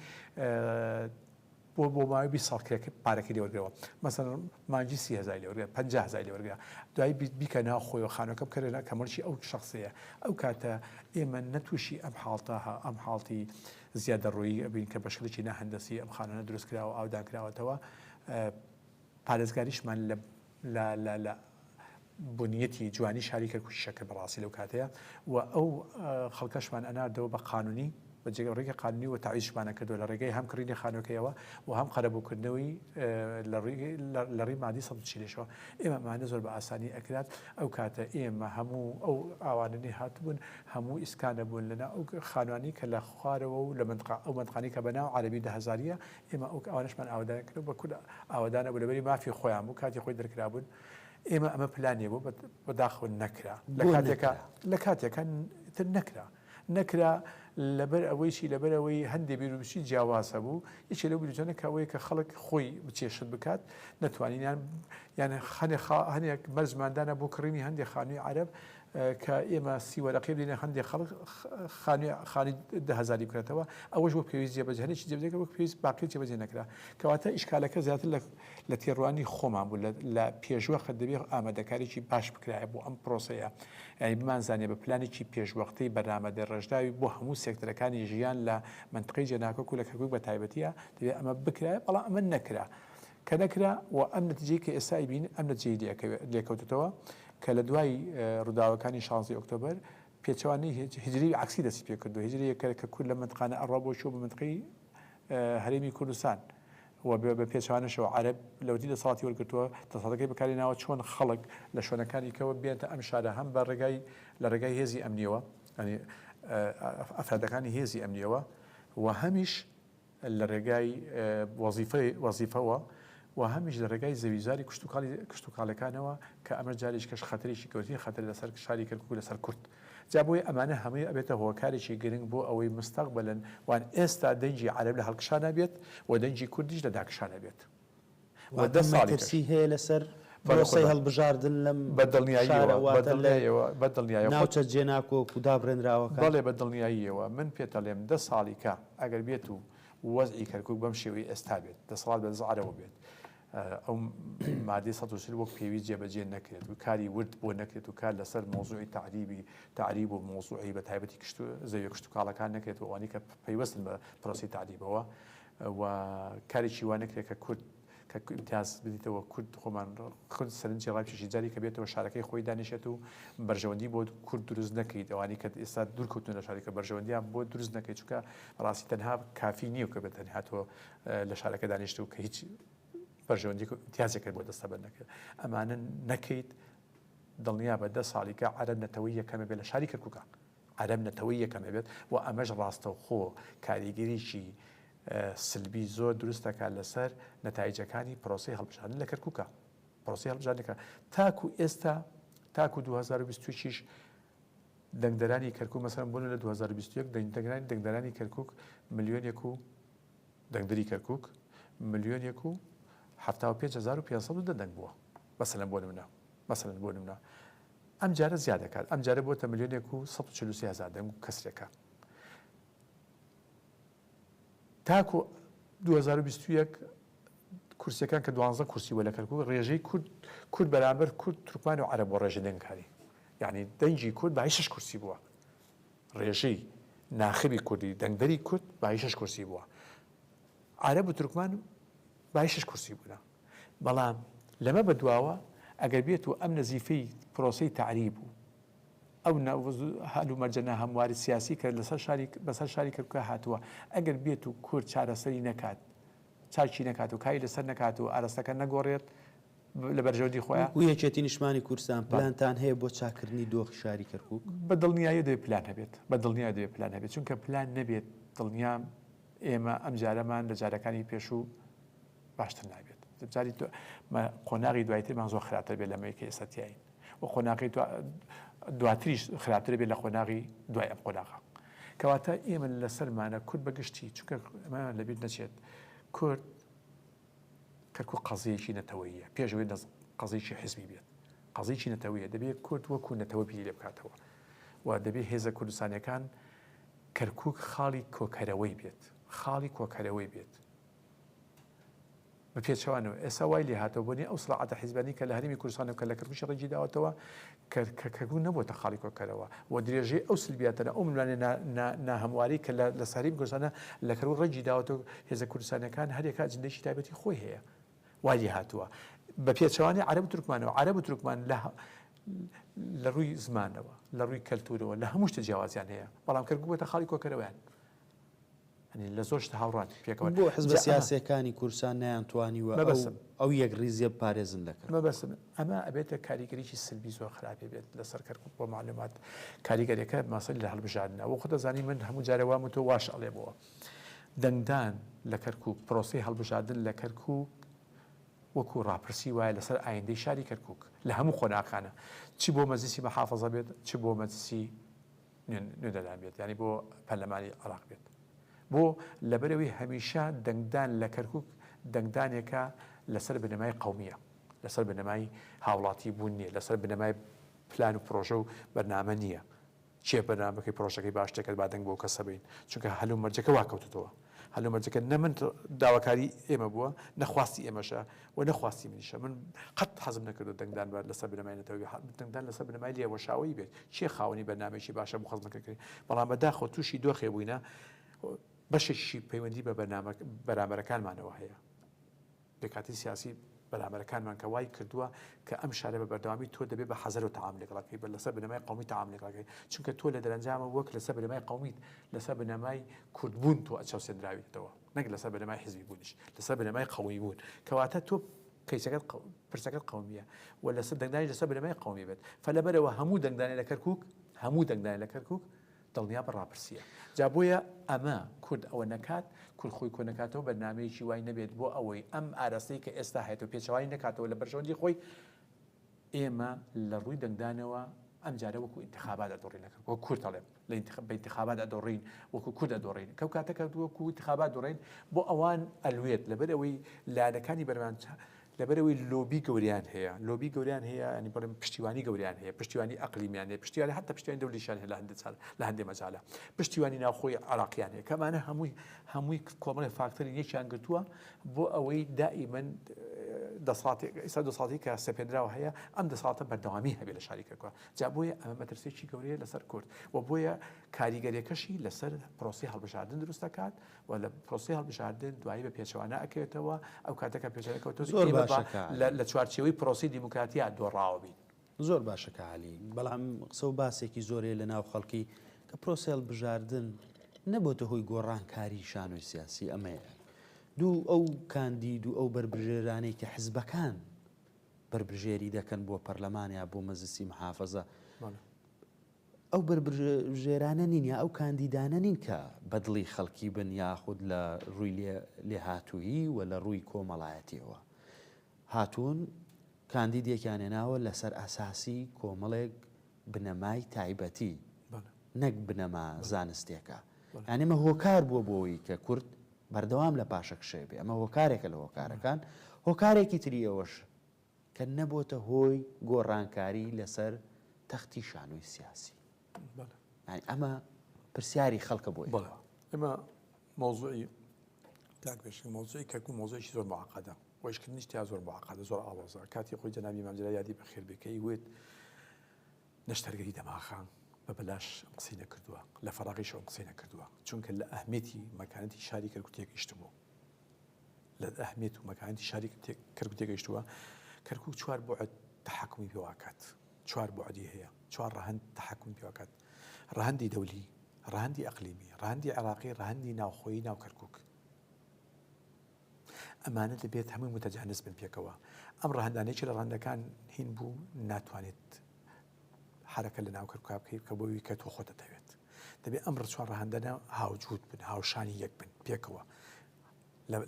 بۆ بۆ ماوەی 20 ساڵ کرێک پارەکەی لێوەرگەوە مەسەن مانجی سی هزار لێوەرگە 50 هزار لێوەرگە دوای بیکە ناو خۆیەوە خانەکە بکەرێنە کەمەڵکی ئەو شخصەیە ئەو کاتە ئێمە نەتوشی ئەم حاڵتە ئەم حاڵتی زیادەڕۆیی ئەبین کە بە شکلێکی ناهەندەسی ئەم خانوانە دروست کراوە و ئاودان کراوەتەوە. پارێزگاریشمان لە بنیەتی جوانی شاری کەرکوکی شەکر بەڕاستی لەو کاتەیە و ئەو خەڵکەشمان ئەناردەوە بە قانونی بە جێگە ڕێگە قانونی و تاویشمانە کردو لە ڕێگەی هەم کڕینی خانوەکەیەوە و هەم قەرەبووکردنەوەی لە ڕێی مادی سەد چیلشەوە ئێمە ئەمانە زۆر بە ئاسانی ئەکرات ئەو کاتە ئێمە هەموو ئەو ئاوانەی هاتبوون هەموو ئیسکان دەبوون لەناو ئەو خانوانەی کە لە خوارەوە و لە مەنتقا ئەو مەنتقانەی کە بەناو عەرەبی دە هەزارییە ئێمە ئەو ئەوانەشمان ئاوەدانیان کردووە بە کورد ئاوەدان نەبوو لەبەری مافی خۆیان بوو کاتی خۆی دەرکرابوون ئێمە ئەمە پلانێ بوو بە داخەوە نەکرا لە بۆ کاتێکا نەکرا؟ لە کاتێکا تر نەکرا نەکرا لەبەر ئەوەیشی لەبەر ئەوەی هەندێ بیروبچی جیاواز هەبوو یەکێ لەو بیروچانە کە ئەوەیە کە خەڵک خۆی بچێ شت بکات نەتوانین یان یان خەنێ خا هەنێک مەرجمان دانا بۆ کڕینی هەندێ خانووی عەرەب کە ئێمە سی وەرەقەی بدەینە هەندێ خەڵک خانوێ خانی دە هەزاری بکرێتەوە ئەوەش وەک پێویست جێبەجێ هەرێکی جێبەجێ کە وەک پێویست باقی جێبەجێ نەکرا کەواتە ئیشکالەکە زیاتر لە لە تێڕوانی خۆمان بوو لە پێشوەخت دەبێ ئامادەکاریی باش بکرایە بۆ ئەم پرۆسەیە یعنی بمانزانێ بە پلانێکی پێشوەختەی بەرنامە دەڕێژراوی بۆ هەموو سێکتەرەکانی ژیان لە منطقەی جێناکۆک و لە کەرکوک بە تایبەتیە دەبێ ئەمە بکرایە بەڵام ئەمە نەکرا کە نەکرا و ئەم نەتیجەی کە ئێستا ئەیبینین ئەم نەتیجەی لێکەوێت لێکەوتۆتەوە کە لە دوای ڕووداوەکانی شانزەی ئۆکتۆبەر پێچەوانەی هێج هیجرەی عەکسی دەستی پێ کردووە هیجرەیەک کە کە کورد لە مەنتقانە ئەڕا بۆ چووە بە مەنتقەی هەرێمی کوردستان و بێ بە پێچەوانەشەوە عەرەب لەوەتی دەسەڵاتی وەرگرتووە دەسەڵاتەکەی بەکاری ناوە چۆن خەڵک لە شوێنەکانی کەوە بێنتە ئەم شارە هەم بە ڕێگای لە ڕێگای هێزی ئەمنییەوە یانی ئەفرادەکانی هێزی ئەمنییەوە و هەمیش لە رێگای وەزیفەوە و هەمیش لە رێگای زەویوزاری کشتوکاڵیەکانەوە کە ئەمەش جاریشکەش خەتەرێکی گەورەترین خەتەرە لەسەر شاری کەرکوک و لەسەر کورد. جا بۆیە ئەمانە هەمووی ئەبێتە هۆکارێکی گرنگ بۆ ئەوەی مستەقبەلەن وان ئێستا دەنگی عەرەب لە هەڵکشانە بێت و دەنگی کوردیش لە داکشانە بێت. واتە مەترسی هەیە لەسەر پرۆسەی هەڵبژاردن لەم شارە واتە لە ناوچە جێناکۆک و دابڕێنراوەکان؟ بەڵێ بە دڵنیاییەوە، من پێتەڵێم دە ساڵی کە ئەگەر بێت و وەزعی کەرکوک بەم شێوەی ئێستا بێت، دەسەڵات بە دەست عەرەبەوە بێت، ئەو مادەی سەد و چل وەک پێویست جێبەجێ نەکرێت و کاری ورد بۆ نەکرێت و کار لەسەر مەوزوعی تەعریبی تەعریب و مەوزوعی بەتایبەتی زەویە کشتوکاڵەکان نەکرێت و ئەوانەی کە پەیوەستن بە پرۆسەی تەعریبەوە، و کارێکی وا نەکرێت کە کورد کە ئیمتیاز بدیتەوە کورد خۆمان خود سەرنجی ڕاکێشی جاری کە بێتەوە شارەکەی خۆی دانیشێت و بەرژەوەندی بۆ کورد دروست نەکەیت ئەوانی کە ئێستا دوورکەوتن لە شارەکە بەرژەوەندیان بۆ دروست نەکەیت چونکە ڕاستی تەنها کافی نییە کە بێت تەنها تۆ لە شارەکە دانیشت و کە هیچ بەرژەوەندی امتیازێکت بۆ دەستە بەر نەکرێت ئەمانە نەکەیت دڵنیا بە دە ساڵیکە عەرەب نەتەوەی یەکەمە بێ لە شاری کەرکووکە عەرەب نەتەوەی یەکەم ئەبێت و ئەمەش ڕاستەوخۆ کاریگەریی سلبی زۆر دروست دەکات لەسەر نەتایجەکانی پرۆسەی هەڵبژاردن لە کەرکووکە پرۆسی هەڵبژاردنەکە تاکو ئێستا تاکو 2026 دەنگدەرانی کەرکک مەسەن بوون لە 2021 دەنگدەگرانی دەنگدەرانی کەرکک ملیۆنێک و دەنگدری کەرکک ملیۆنێک و 5 دە دەنگ بووە بەسەلەن بۆ منە بەسەلەن بۆ منە ئەمجارە زیاد دەکات، ئەمجارە بۆتە ملیۆنێک و سەد و چل و سێ هەزار دەنگ و کەسرێکە. تاکو دوو هەزار و بیست و یەک کورسیەکان کە دوانزە کورسی بووە لە کەرکوک ڕێژەی کورد کورد بەرامبەر کورد تورکمان و عەرەب بۆ ڕێژە دەنگکاری یعنی دەنگی کورد بە شش کورسی بووە ڕێژەی ناخبی کوردی دەنگدەری کورد بە شش کورسی بووە عەرەب و تورکمان بای شەش کورسی بوونە. بەڵام لەمە بە دواوە ئەگەر بێت و ئەم نەزیفەی پرۆسەی تەعریب و ئەو هەلومەرجە ناهەمواری سیاسی کە لەسەر شاری بەسەر شاری کەرکوکە هاتووە ئەگەر بێت و کورد چارەسەری نەکات چاکی نەکات و کاری لەسەر نەکات و ئارەستەکە نەگۆڕێت لە بەرژەوەندی خۆیان وەکوو یەکێتی نیشتمانی کوردستان بەڵێ. پلانتان هەیە بۆ چاککردنی دۆخی شاری کەرکووک؟ بە دڵنیاییەوە دەبێت پلان هەبێت، بە دڵنیاییەوە دەبێت پلان هەبێت، چونکە پلان نەبێت دڵنیام، ئێمە ئەم جارەمان لە جارەکانی پێشوو باشتر نابێت جاری تۆ قۆناغی دوایترمان زۆر خراپتر بێت لەمەی کە ئێستا تیاین و قۆناغی دواتریش خراپتر بێت لە قۆناغی دوای ئەم قۆناغا کەواتە ئێمە لەسەرمانە کورد بەگشتی چونکە لەبییر نەچێت کورد کەکو قەزیەکی نەتەوەیە پێشەوەی قەزیکی حزبی بێت قەزیکی نەتەوەیە دەبێت کورد وەکو نەتەوە بیری لێ بکاتەوە و دەبێت هێزە کوردستانەکان کەرکوک خاڵی کۆکەرەوەی بێت خاڵی کۆکەرەوەی بێت بەپێچەوانەوە ئێسا وای لێهاتەوە بۆنی ئەو سڵاعاتە حیزبانی کە لە هەرمی کوردستان و کە لە کەرکوکی ڕێجی داوەتەوە کەرکەکەگو نەبووتە خاڵی کۆکەرەوە و درێژەی ئەو سلبیاتەنە ئەو ملوانێ ناهەمواری کە لە ساری کوردستانە لە کەرو ڕێجی داوەتەوە هێزە کوردستانەکان هەرێکە جندێکی تایبەتی خۆی هەیە وای لێ هاتووە بە پێچەوانەی عەرەب و تورکمانەوە عەرەب و تورکمان لە لە ڕووی زمانەوە لە ڕووی کەلتورەوە لە هەموو شتە جیاوازیان هەیە بەڵام کەرکوک بووەتە خاڵی کۆکەرەوەیان ئەنی لە زۆر شتە هاوڕان پێکەوە بۆ حزب جا ئەمە- سیاسەکانی کورسان نیان توانیوە ئەو مەبەستم. ئەو یەک ریزیە بپارێزن لەکەر مەبەستم ئەمە ئەبێتە کاریگەریی سلبی زۆر خراپی بێت لەسەر کەرکک بۆ معلومات کاریگەریەکە ماسەری لە هەڵبژاردنە وە خۆ دەزانی من هەموو جارە وام و تۆ واش ئەڵێمەوە دەنگدان لە کەرکوک، پرۆسەی هەڵبژاردن لە کەرکوک وەکو ڕاپرسی وایە لەسەر ئایندەی شاری کەرکوک لە هەموو قۆناغکانە چ بۆ مەجلیسی مەحافەزە بێت چ بۆ مەجلیسی نوێنەران بێت یانی بۆ پەرلەمانی عراق بێت بۆ لەبەرەوەی هەمیشە دەنگدان لە کەرکک دەنگدانێکە لەسەر بنەمای قومیە لەسەر بنەمای هاوڵاتی بوون نیە لەسەر بنەمای پلان و پرۆژە و بەرنامە نییە کێ بەرنامە بکەی پرۆژەکەی باش دەکەت با دەنگ بەو کەسە بەین چونکە هەل و مەرجەکە وا کەوتۆتەوە هەل و مەرجەکە نە من داواکاری ئێمە بووە نە خواستی ئێمەشە و نە خواستی منیشە من قەت حەزم نەکردو دەنگدان بە لەسەر بنەمای نەتەوەی دەنگدان لەسەر بنەمای لێوەشاوەیی بێت کێ خاوەنی بەرنامەیەکی باشە بۆ خزمەتکرد کردنی بەڵام بەداخەوە تووشی دۆخێ بووینە بەشێکیشی پەیوەندی بە بەرنامە بەرامبەرەکانمانەوە هەیە پێکهاتەی سیاسی بەرامبەرەکانمان کە وای کردووە کە ئەم شارە بە بەردەوامی تۆ دەبێ بە حەزەرۆ تەعامول لەگەڵ کەی بە لەسەر بنەمای قەومی تەعامول لەگەڵ کەی چونکە تۆ لە دەرەنجامە وەک لەسەر بنەمای قەومیت لەسەر بنەمای کورد بوون تۆ چەوسێندراویتەوە نەک لەسەر بنەمای حیزبی بوونیش لەسەر بنەمای قەومی بوون کەواتە تۆ کەیسەکەت قە پرسەکەت قەومیە و لەسەر دەنگدانی لەسەر بنەمای قەومی بێت فە لەبەرەوە هەموو دەنگدانێ لە کەرکووک هەموو دەنگدانێ لە کەرکووک دڵنیا بە ڕاپرسیە جا بۆیە ئەمە کورد ئەوە نەکات کورد خۆی کۆ نەکاتەوە بەرنامەیەکی وای نەبێت بۆ ئەوەی ئەم ئاراستەی کە ئێستا هەیەەوە پێچوانی نەکاتەوە لە بەرژەوەندی خۆی ئێمە لە ڕووی دەنگدانەوە ئەم جارە وەکو انتخابات دەڕینەکە وە کورد دەڵێ لە انتخابات ئەدۆڕین وەکو کورد دەڕین کەو کاتەکە وەکو انتخابات دەڕین بۆ ئەوان ئەلوێت لەبەر ئەوەی لایەنەکانی بەرمان لەبەرئەوەی لۆبی گەوریان هەیە لۆبی گەوریان هەیە ینی بڵێم پشتیوانی گەوریان هەیە پشتیوانی ئەقلیمیان هەیە پشتیوانی هەتا پشتیوانی دەولیشان هەیە لە هەندێ چار لە هەندێ مەجالا پشتیوانی ناوخۆی عراقیان هەیە کەمانە هەمووی هەمووی کۆمەڵی فاکتەری یەکیان گرتووە بۆ ئەوەی دائیمەن دەسەڵاتی ئیستا دەسەڵاتی کە سەپێنراوە هەیە ئەم دەسەڵاتە بەردەوامی هەبێ لە شاری کەرکوە جا بۆیە ئەمە مەترسێکی گەورەیە لەسەر کورد و بۆیە کاریگەریەکەشی لەسەر پرۆسی هەڵبژاردن دروستەکات و لە پرۆسەی هەڵبژاردن دوایی بە پێچەوانە ئەکەوێتەوە ئەو کاتە کە پێچەوانە کەوتوە بێت، زۆر ئێمە باشە با کە عەلی. لە لە چوارچێوەی پرۆسەی دیموکراتیا دۆڕاوە بین. زۆر باشە کە عەلی، بەڵام قسە و باسێکی زۆر هەیە لە ناو خەڵکی کە پرۆسەی هەڵبژاردن نەبۆتە هۆی گۆڕانکاریی شانۆی سیاسی، ئەمەیە دوو ئەو کاندید و ئەو بەربژێرانەی کە حزبەکان بەربژێری دەکەن بۆ پەرلەمان یا بۆ مەجلسی محافەزە، بەڵێ. ئەو بەربژێرانە نین یا ئەو کاندیدانە نین کە بە دڵی خەڵکی بن یاخود لە ڕووی لێهاتوویی و لە ڕووی کۆمەڵایەتییەوە هاتوون، کاندیدێکیان هێناوە لەسەر ئەساسی کۆمەڵێک بنەمای تایبەتی نەک بنەما زانستێکە. یانێ مە هۆکار بووە بۆەوەی کە کورد بەردەوام لە پاشەکشێ بێ ئەمە هۆکارێکە لە هۆکارەکان هۆکارێکی تری ئەوەش کە نەبۆتە هۆی گۆڕانکاری لەسەر تەختی شانۆی سیاسی. بەڵێ. یانی ئەمە پرسیاری خەڵکە بۆ ئێوە. بەڵێ. ئێمە مەوزوعی کاک پێشنگ مەوزوعی کەرکوک مەوزوعێکی زۆر معقدە و ئیشکردنیش تیا زۆر معقدە زۆر ئاڵۆزە کاتی خۆی جەنابی مام جەلال یادی بەخێر بێ کە ئیوت نەشتەرگەری دەماخە بە بەلاش ئەم قسەی نەکردووە لە فەراغیش ئەم قسەی نەکردووە چونکە لە ئەهمیەتی مەکانەتی شاری کەرکوک تێگەیشتبوو لە ئەهمیەت و مەکانەتی شاری کەرکوک تێگەیشتووە، کەرکوک چوار بوعد تەحەکومی پێواکات، چوار بوعدی هەیە، چوار ڕەهەند تەحەکومی پێواکات، ڕەهەندی دەولی، ڕەهەندی ئەقلیمی، ڕەهەندی عێراقی، ڕەهەندی ناوخۆیی ناو کەرکوک. ئەمانە دەبێت هەمووی متەجانس بن پێکەوە، ئەم ڕەهەندانە یەکێ لە ڕەهەندەکان هین بوو ناتوانێت حەرەکەت لەناو کەر کا بکەی کە بۆوی کە تۆ خۆت دەتەوێت دەبێت ئەم ڕچوار ڕەهندەنە هاوجود بن هاوشانی یەک بن پێکەوە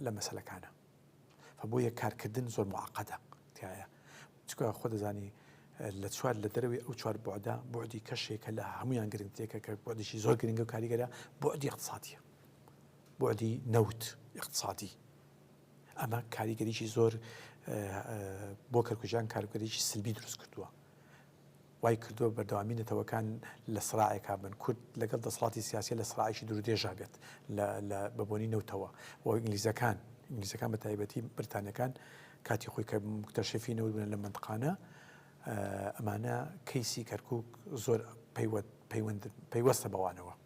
لە مەسلەکانە بۆ یە کارکردن زۆر معقەدە تایە چکە خۆ دەزانی لە چوار لە دەروی ئەو چوار بۆدا بۆدی کەشێکە لە هەمویان گرنگتێکە کە بۆدیشی زۆر گرنگە و کاریگەرە بۆدی اقتصادیە بۆدی نەوت اقتصادی ئەمە کاریگەریی زۆر بۆ کەرکوژان کارگەریی سلبی دروست کردووە وای کردووە بەردەوامی نەتەوەکان لە سڕاعێکا بن، کورد لەگەڵ دەسەڵاتی سیاسیە لە سڕاعێکی دوورودێژا بێت لە بەبۆنەی نەوتەوە و ئینگلیزەکان، ئینگلیزەکان بە تایبەتی بریتانیەکان کاتی خۆی کە مکتەشەفی نەوت بوونە لە مەنتقانە ئەمانە کەیسی کەرکوک زۆر پەیوەستە بەوانەوە.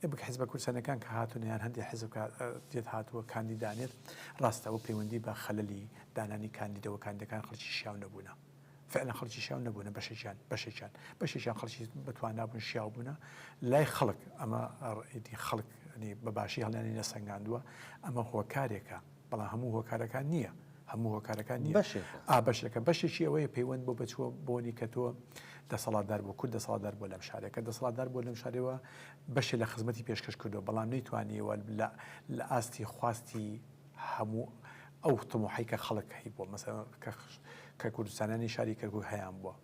ئێ بک حزبە کورسەنەکان کە هاتونە یان هەندێ حزب کە دێت هاتووە کاندی دانێت ڕاستە ئەوە پەیوەندی بە خەللی دانانی کاندیدەوە کاندەکان خەڵکی شیاو نەبوونە فعلا خەڵکی شیاو نەبوونە بەشێکیان بەشێکیان بەشێکیان خەڵکی بەتوانابوون شیاو بوونە لای خەڵک ئەمە ڕئیدی خەڵک بە باشی هەڵیانی نەسەنگاندووە ئەمە هۆکارێکە بەڵام هەموو هۆکارەکان نییە هەموو هۆکارەکان نیە بەشێکە بەشێکی ئەوەیە پەیوەند بۆ بەچووە بۆنی کە تۆ دەسەڵاتدار بۆ کورد دەسەڵاتدار بۆ لەم شارێکە دەسەڵاتدار بۆ لەم شارەوە بەشێ لە خزمەتی پێشکەش کردو بەڵام نەیتوانیوە لە ئاستی خواستی هەموو ئەو تمۆحی کە خەڵک هەی بۆ مەسە کە کوردستانانی شاری کەرکک هەیان بووە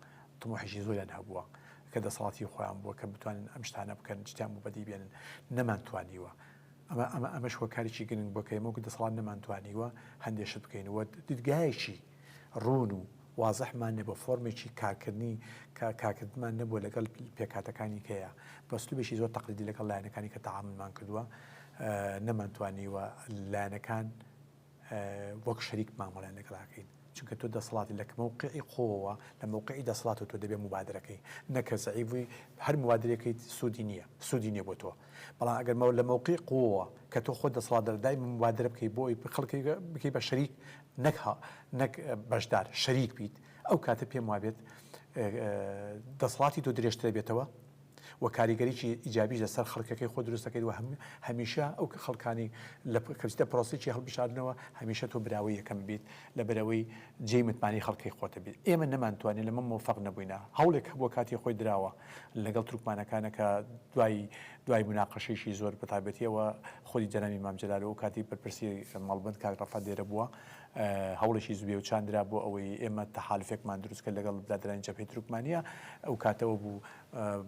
تمۆحیشی زۆریان هەبووە کە دەسەڵاتی خۆیان بووە کە بتوانن ئەم شتانە بکەن شتیان بۆ بەدی بێنن نەمانتوانیوە ئەمە ئەمە ئەمەش هۆکارێکی گرنگ بووە کە ئێمە وەکو دەسەڵات نەمانتوانیوە هەندێ شت بکەین و دیدگایەکی ڕوون و وازحمان نەبوو فۆرمێکی کارکردنی کە کارکردمان نەبووە لەگەڵ پێکاتەکانی کەیە بەسلوبێکی زۆر تەقلیدی لەگەڵ لایەنەکانی کە تەعاملمان کردووە نەمانتوانیوە لایەنەکان وەک شەریک مامەڵەیان لەگەڵ ئەکەین چونکە تۆ دەسەڵاتی لە مەوقعی خۆوە لە مەوقعی دەسەڵات و تۆ دەبێ مبادرەکەی نەکە زەعیف بووی هەر موادرەکەی سوودی نییە سوودی نیە بۆ تۆ بەڵام ئەگەر مەوە لە مەوقعی قووە کە تۆ خۆ دەسەڵات دەردای مبادرە بکەی بۆی خەڵکی بکەی بە شەریک نەکها نەک بەشدار شەریک بیت ئەو کاتە پێم وابێت دەسەڵاتی تۆ درێژترە بێتەوە وە کاریگەریی ئیجابیش لە سەر خەڵکەکەی خۆت دروست دەکەیت وە هەمیشە ئەو کە خەڵکانی لە کە بچیتە پرۆسەیەکی هەڵبژاردنەوە هەمیشە تۆ براوەی یەکەم بیت لەبەرئەوەی جێی متمانەی خەڵکەی خۆتە بیت ئێمە نەمانتوانی لەمە مۆفەق نەبووینە هەوڵێک هەبووە کاتی خۆی دراوە لەگەڵ تورکمانەکانە کە دوای دوای مناقەشەیەکی زۆر بە تایبەتی ئەوە خۆی جەنابی مام جەلال و ئەو کاتی بەرپرسی مەڵبەند کاک ڕەفا دێرە بووە هەوڵێکی زوێ و چان درا بۆ ئەوەی ئێمە تەحالفێکمان دروست کرد لەگەڵ برادەرانی جەبهەی تورکمانیا، ئەو کاتەوە بوو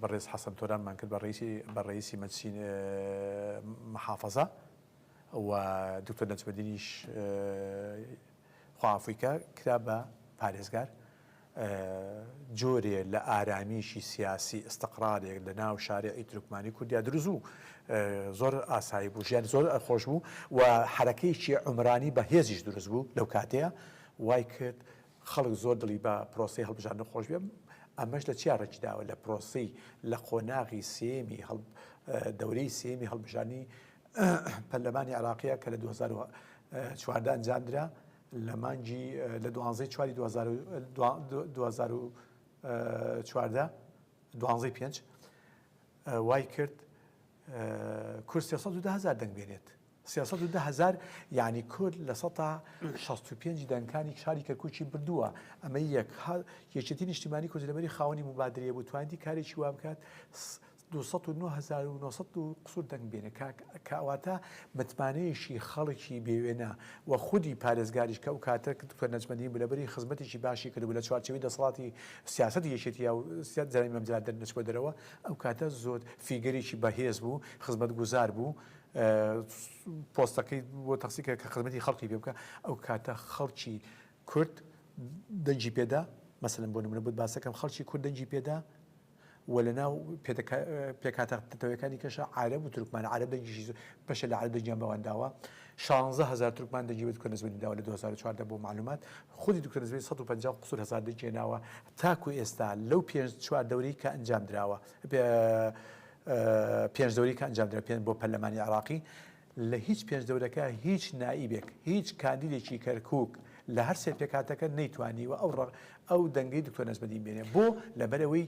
بەڕێز حەسەن تۆرانمان کرد بە ڕەییسی مەجسی محافەزە و دوکتۆر نەجمەدینیش خوا عەفوی کا کرا بە پارێزگار. جۆرێ لە ئارامیی سیاسی، ئیستقرارێک لە ناو شارعی تورکمانی کوردیا دروست بوو. زۆر ئاسایی بوو، ژیان زۆر خۆش بوو و حەرەکەیەکی عومرانی بە هێزیش دروست بوو لەو کاتەیا، وای کرد خەڵک زۆر دڵی بە پرۆسەی هەڵبژاردن خۆش بێ. ئەمەش لە چیا ڕێکی داوە؟ لە پرۆسەی لە قۆناغی سێیەمی هەڵ، دەورەی سێیەمی هەڵبژاردنی پەرلەمانی عێراقیا کە لە دوو هەزار و چواردە ئەنجام درا، لە مانگی لە دوانزەی چواری دوو هەزار و دوو هەزار و چواردە دوانزەی پێنج وای کرد کورد سێ سەد و دە هەزار دەنگ بێنێت سێ سەد و دە هەزار یعنی کورد لە سەتا شەست و پێنج دەنگکانی شاری کەرکوکی بردووە ئەمە یەک یەکێتی نیشتیمانی کوردی لەبەری خاوەنی مبادرەیە بوو توانیدی کارێکی وا بکات دوو سەد و نۆ هەزار و نۆ سەد و قسور دەنگ بێنێ کاک کاواتە متمانەیەشی خەڵکی بێ وێنە وە خودی پارێزگاریش کە ئەو کاتە دکتۆر نەجمەدین بوو لەبری خزمەتێکی باشی کردبوو لە چوارچێوەی دەسەڵاتی سیاسەتی یەکێتیا و جەنابی مام جەلال دەرنەچووە دەرەوە ئەو کاتە زۆر فیگەرێکی بەهێز بوو خزمەت گوزار بوو پۆستەکەی بۆ تەخسی کرد کە خزمەتی خەڵکی پێ بکە ئەو کاتە خەڵکی کورد دەنگی پێدا مەسەلەن بۆ نمونە بۆت باسەکەم خەڵکی کورد دەنگی پێدا و لە ناو پێکهاتە نەتەوەیەکانی کەشە عارەب و تورکمان عارەب دەنگیشی زۆر بەشە لە عارەب دەنگیان بەوان داوە شانزە هەزار تورکمان دەنگی بە دکتۆر نەزمەدین داوە لە دوو هەزار و چواردە بۆ مەعلومات خودی دکتۆر نەزمەدین سەد و پەنجا و قوسور هەزار دەنگی هێناوە تاکوو ئێستا لەو پێنج چوار دەورەی کە ئەنجام دراوە پێنج دەورەی کە ئەنجام درا پێنج بۆ پەرلەمانی عێراقی لە هیچ پێنجدەورەکە هیچ نائیبێک، هیچ کاندیدێکی کەرکوک لە هەر سێ پێکهاتەکە نەیتوانیوە ئەو ڕە ئەو دەنگەی دکتۆر نەجمەدین بێنێ بۆ؟ لەبەر ئەوەی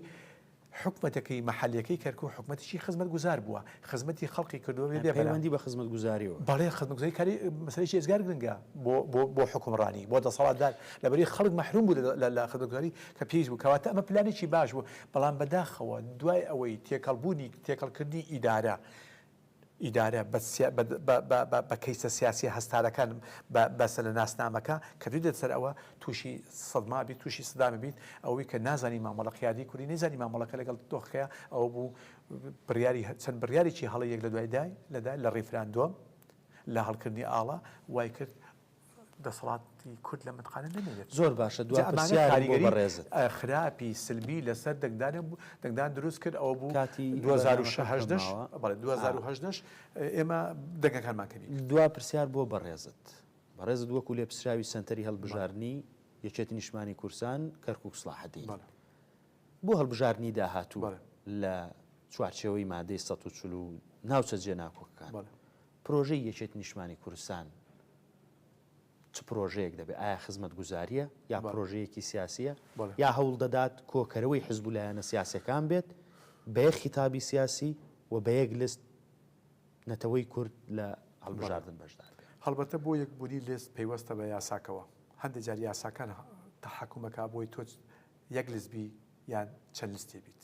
حکومەتەکەی مەحەلیەکەی کەرکوک حکومەتێکی خزمەتگوزار بووە، خزمەتی خەڵقی کردووە بێ بەرە. پەیوەندی بە خزمەتگوزاریەوە. بەڵێ خزمەتگوزاری کاری مەسەلەیەکی ئێجگار گرنگە بۆ بۆ بۆ حوکمڕانی، بۆ دەسەڵاتدار، لەبەرئەوەی خەڵک مەحروم بوو لە لە خزمەتگوزاری کە پێویست بوو، کەواتە ئەمە پلانێکی باش بوو، بەڵام بەداخەوە دوای ئەوەی تێکەڵبوونی تێکەڵکردنی ئیدارە، ئیدارە بە کەیسە سیاسیە هەستارەکان بەسە لە ناسنامەکە کە دوی دێت سەر ئەوە توشی سەدما بیت توشی سدامە بیت ئەوەی کە نازانی مامەڵە قیادی کوردی نەیزانی مامەڵەکە لەگەڵ دۆخەکەیە ئەوە بوو بڕیاری چەند بڕیارێکی هەڵە یەک لە دوای دای لە ریفراندۆم لە هەڵکردنی ئاڵا وای کرد دەسەڵاتی کورد لە متقانە نەمێنێت. زۆر باشە دو پرسیارم بۆ بەڕێزت. ئەمانە کاریگەری خراپی سلبی لەسەر دەنگدان و دەنگدان دروست کرد ئەوە بوو کاتی بەرنامەکەت تەمامە. بەڵێ دوو هەزار و هەژدە ش ئێمە دەنگەکانمان کەمی کرد. دو پرسیار بۆ بەڕێزت. بەڕێزت وەکو لێپسراوی سەنتەری هەڵبژاردنی یەکێتی نیشتمانی کورسان کەرکوک سڵاحەدین بۆ هەڵبژاردنی داهاتوو لە چوارچێوەی مادەی سەد و چل و ناوچە جێناکۆکەکان پرۆژەی یەکێتی نیشتمانی کوردستان چ پرۆژەیەک دەبێت؟ ئایا خزمەتگوزارییە یا پرۆژەیەکی سیاسییە یا هەوڵ دەدات کۆکەرەوەی حزب و لایەنە سیاسییەکان بێت بە یەک خیتابی سیاسی و بە یەک لست نەتەوەی کورد لە هەڵبژاردن بەشدار بێت؟ هەڵبەتە بۆ یەکبوونی لست پەیوەستە بە یاساکەوە، هەندێک جار یاساکان تەحەکوم ئەکات بۆی تۆ یەک لست بی یان چەند لستێ بیت،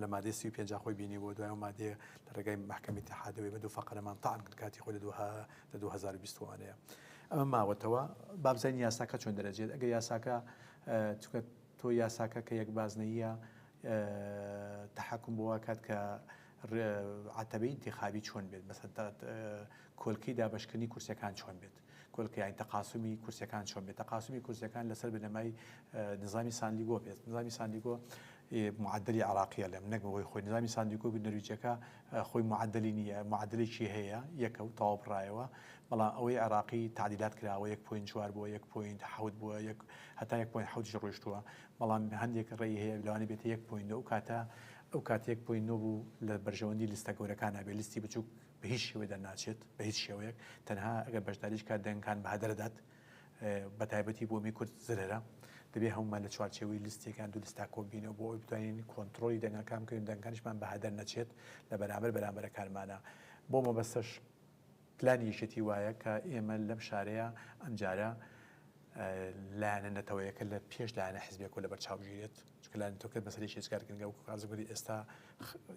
لە مادەی سی و پێنجا خۆی بینی بۆ دوای و مادەیە لە ڕێگای مەحکەمی تحادەوەی بە دوو فەقەرەمان تاان کرد کاتی خۆی لە دوها لە 2020وانەیە ئەمە ماوەتەوە بابزین یاساکە چۆن دەرەجێت ئەگە یاساکە چکە تۆ یاساکە کە یەک بازنەیە تحکم بۆ کات کە عتەبی انتخابی چۆن بێت بەسەر کۆلکەی دابشکردنی کورسەکان چۆن بێت کۆلکەیان تەقاسومی کورسیەکان چۆن بێت تەقاسومی کورسیەکان لەسەر بنەمای نظامی ساندیگۆ بێت نظامی ساندیگۆ معدلی عراقیە لەم نەک بەوەی خۆی نظامی ساندیگۆ نەرویجەکە خۆی معدلی نیە معدلێکی هەیە یەکە و تەواو بڕایەوە بەڵام ئەوەی عراقی تعدیلات کراوە یەک پوین چوار بووە یەک پوین حوت بووە یەک هەتا یەک پوین حوتیش ڕۆیشتووە بەڵام هەندێک ڕێی هەیە لەوانی بێت یەک پوین ئەو کاتە ئەو کاتێک پوین نۆ بوو لە بەرژەوەندی لستە گەورەکانە بێ لیستی بچووک بە هیچ شێوەیەک دەرناچێت، بە هیچ شێوەیەک، تەنها ئەگەر بەشداریش بکات دەنگەکان بەهەدەرە دات، بە تایبەتی بۆ می کورد زرەرە، دەبێت هەموومان لە چوارچێوەی لیستێک یان دوو لیستا کۆ ببینەوە بۆ ئەوەی بتوانین کۆنتڕۆڵی دەنگەکان بکەین و دەنگەکانیشمان بەهەدەر نەچێت لە بەرامبەر بەرامبەرەکانمانا بۆ مەبەستەش پلانی یەکێتی وایە کە ئێمە لەم شارەیە ئەمجارە لایەنە نەتەوەیەکە لە پێش لایەنە حزبیەکەوە لەبەرچاو بگیرێت. چونکە لایەنی تورکەت بەسەر یەکی لە جگەرە گرنگە وەکو کازم گوتی ئێستا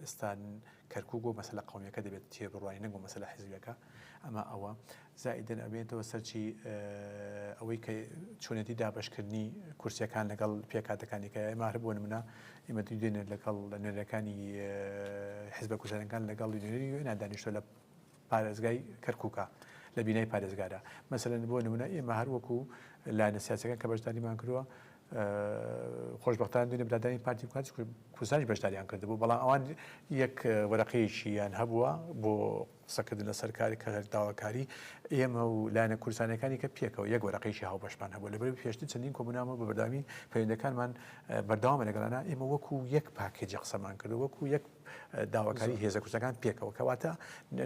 ئێستا کەرکوک بۆ مەسەلە قومیەکە دەبێت تێبڕوانی نەک بۆ مەسەلە حیزبیەکە ئەمە ئەوە زائیدەن ئەبێتەوە سەرچی ئەوەی کە چۆنێتی دابشکردنی کورسیەکان لەگەڵ پێکاتەکانی کە ئێمە هەر بۆ نمونە ئێمە دوو دێنێت لەگەڵ نوێنەرەکانی حزبە کوردستانەکان لەگەڵ نوێنەری وێنا دانیشتۆ لە پارێزگای کەرکوکە لە بینای پارێزگادا مەسەلەن بۆ نمونە ئێمە هەر وەکو لایەنە سیاسەکان کە بەشداریمان کردووە خۆشببختان دوێنێ برادانی پارتی بکات کوردستانی بەشداریان کردبوو بەڵام ئەوان یەک وەرەقەیەکییان هەبووە بۆ قسەکردن لە سەرکاری کە هەر داواکاری ئێمە و لایەنە کورسانەکانی کە پێکەوە یەک وەرەقەیەکی هاوبەشمان هەبوو لەبەر پێشتر چەندین کۆمنامە بە بەردامی پەیوەندەکانمان بەردەوامە لەگەڵانە ئێمە وەکو یەک پاکێجی قسەمان کرد وەکو یەک داواکاری هێزە کوردستانەکان پێکەوە کەواتە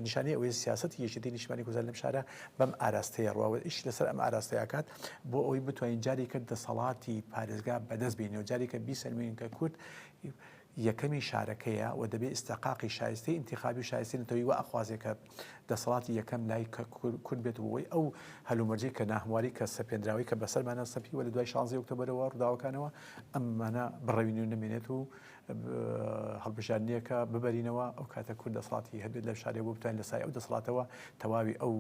نیشانەی ئەوەیە سیاسەتی یەکێتی نیشتمانی کوردستان لەم شارە بەم ئاراستەیە ڕواوە ئیش لەسەر ئەم ئاراستەیەکات بۆ ئەوەی بتوانین جاری کرد دەسەڵاتی پارێزگا بەدەست بینی و جارێکە بیسەلمێنین کە کورد یەکەمی شارەکەیە و دەبێ ئستەقاقی شایستی انتخابی شایستی نتەوەی و ئەخوازێکە دەسەڵاتی یەکەم لای کورد بێت بۆی ئەو هەلومەرجی کە ناهمواری کە سەپێنراوی کە بەسەرمانە سەپی وە لە دوای شانزی ئۆکتۆبرەوە ڕداوەکانەوە ئەممانە بڕەوین و نمێنێت و هەڵبژاردنیەکە ببەرینەوە ئەو کاتە کورد دەسەڵاتی هەبێت لە شارێ بۆ بتوانین لە سای ئەو دەسەڵاتەوە تەواوی ئەو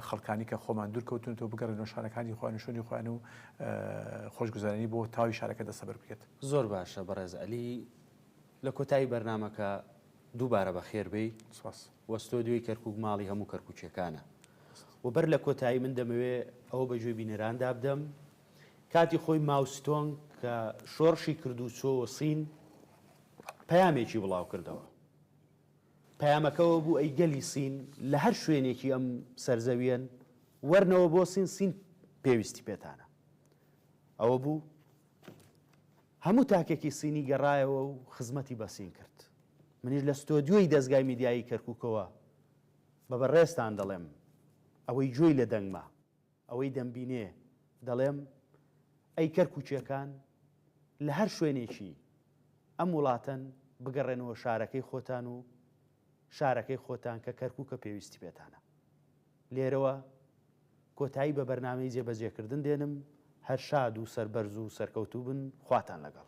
خەڵکانی کە خۆمان دوور کەوتونەوە بگەڕێنەوە شارەکانی خۆیان و شوێنی خۆیان و خۆشگوزەرانی بۆ تاوی شارەکە دەسەبەر بکرێت. زۆر باشە بەڕێز عەلی لە کۆتایی بەرنامەکە دووبارە بەخێر بێی سپاس. و ستۆدیۆی کەرکوک ماڵی هەموو کەرکوکیەکانە و بەر لە کۆتایی من دەمەوێ ئەوە بە گوێی بینەراندا بدەم کاتی خۆی ماو ستۆنگ کە شۆڕشی کردو چۆوە سین پەیامێکی بڵاو کردەوە پەیامەکە ئەوە بوو ئەی گەلی سین لە هەر شوێنێکی ئەم سەرزەویەن وەرنەوە بۆ سین سین پێویستی پێتانە ئەوە بوو هەموو تاکێکی سینی گەڕایەوە و خزمەتی بەسین کرد منیش لە ستۆدیۆی دەستگای میدیایی کەرککەوە بە بەڕێستان دەڵێم ئەوەی گوێی لە دەنگمە ئەوەی دەمبینێ دەڵێم ئەی کەرکوکیەکان لە هەر شوێنێکی ئەم وڵاتەن بگەڕێنەوە شارەکەی خۆتان و شارەکەی خۆتان کە کەرکوکە پێویستی پێتانە لێرەوە کۆتایی بە بەرنمەی جێبەجێکردن دێنم هەر شاد و سەربەرز و سەرکەوتوو بن خواتان لەگەڵ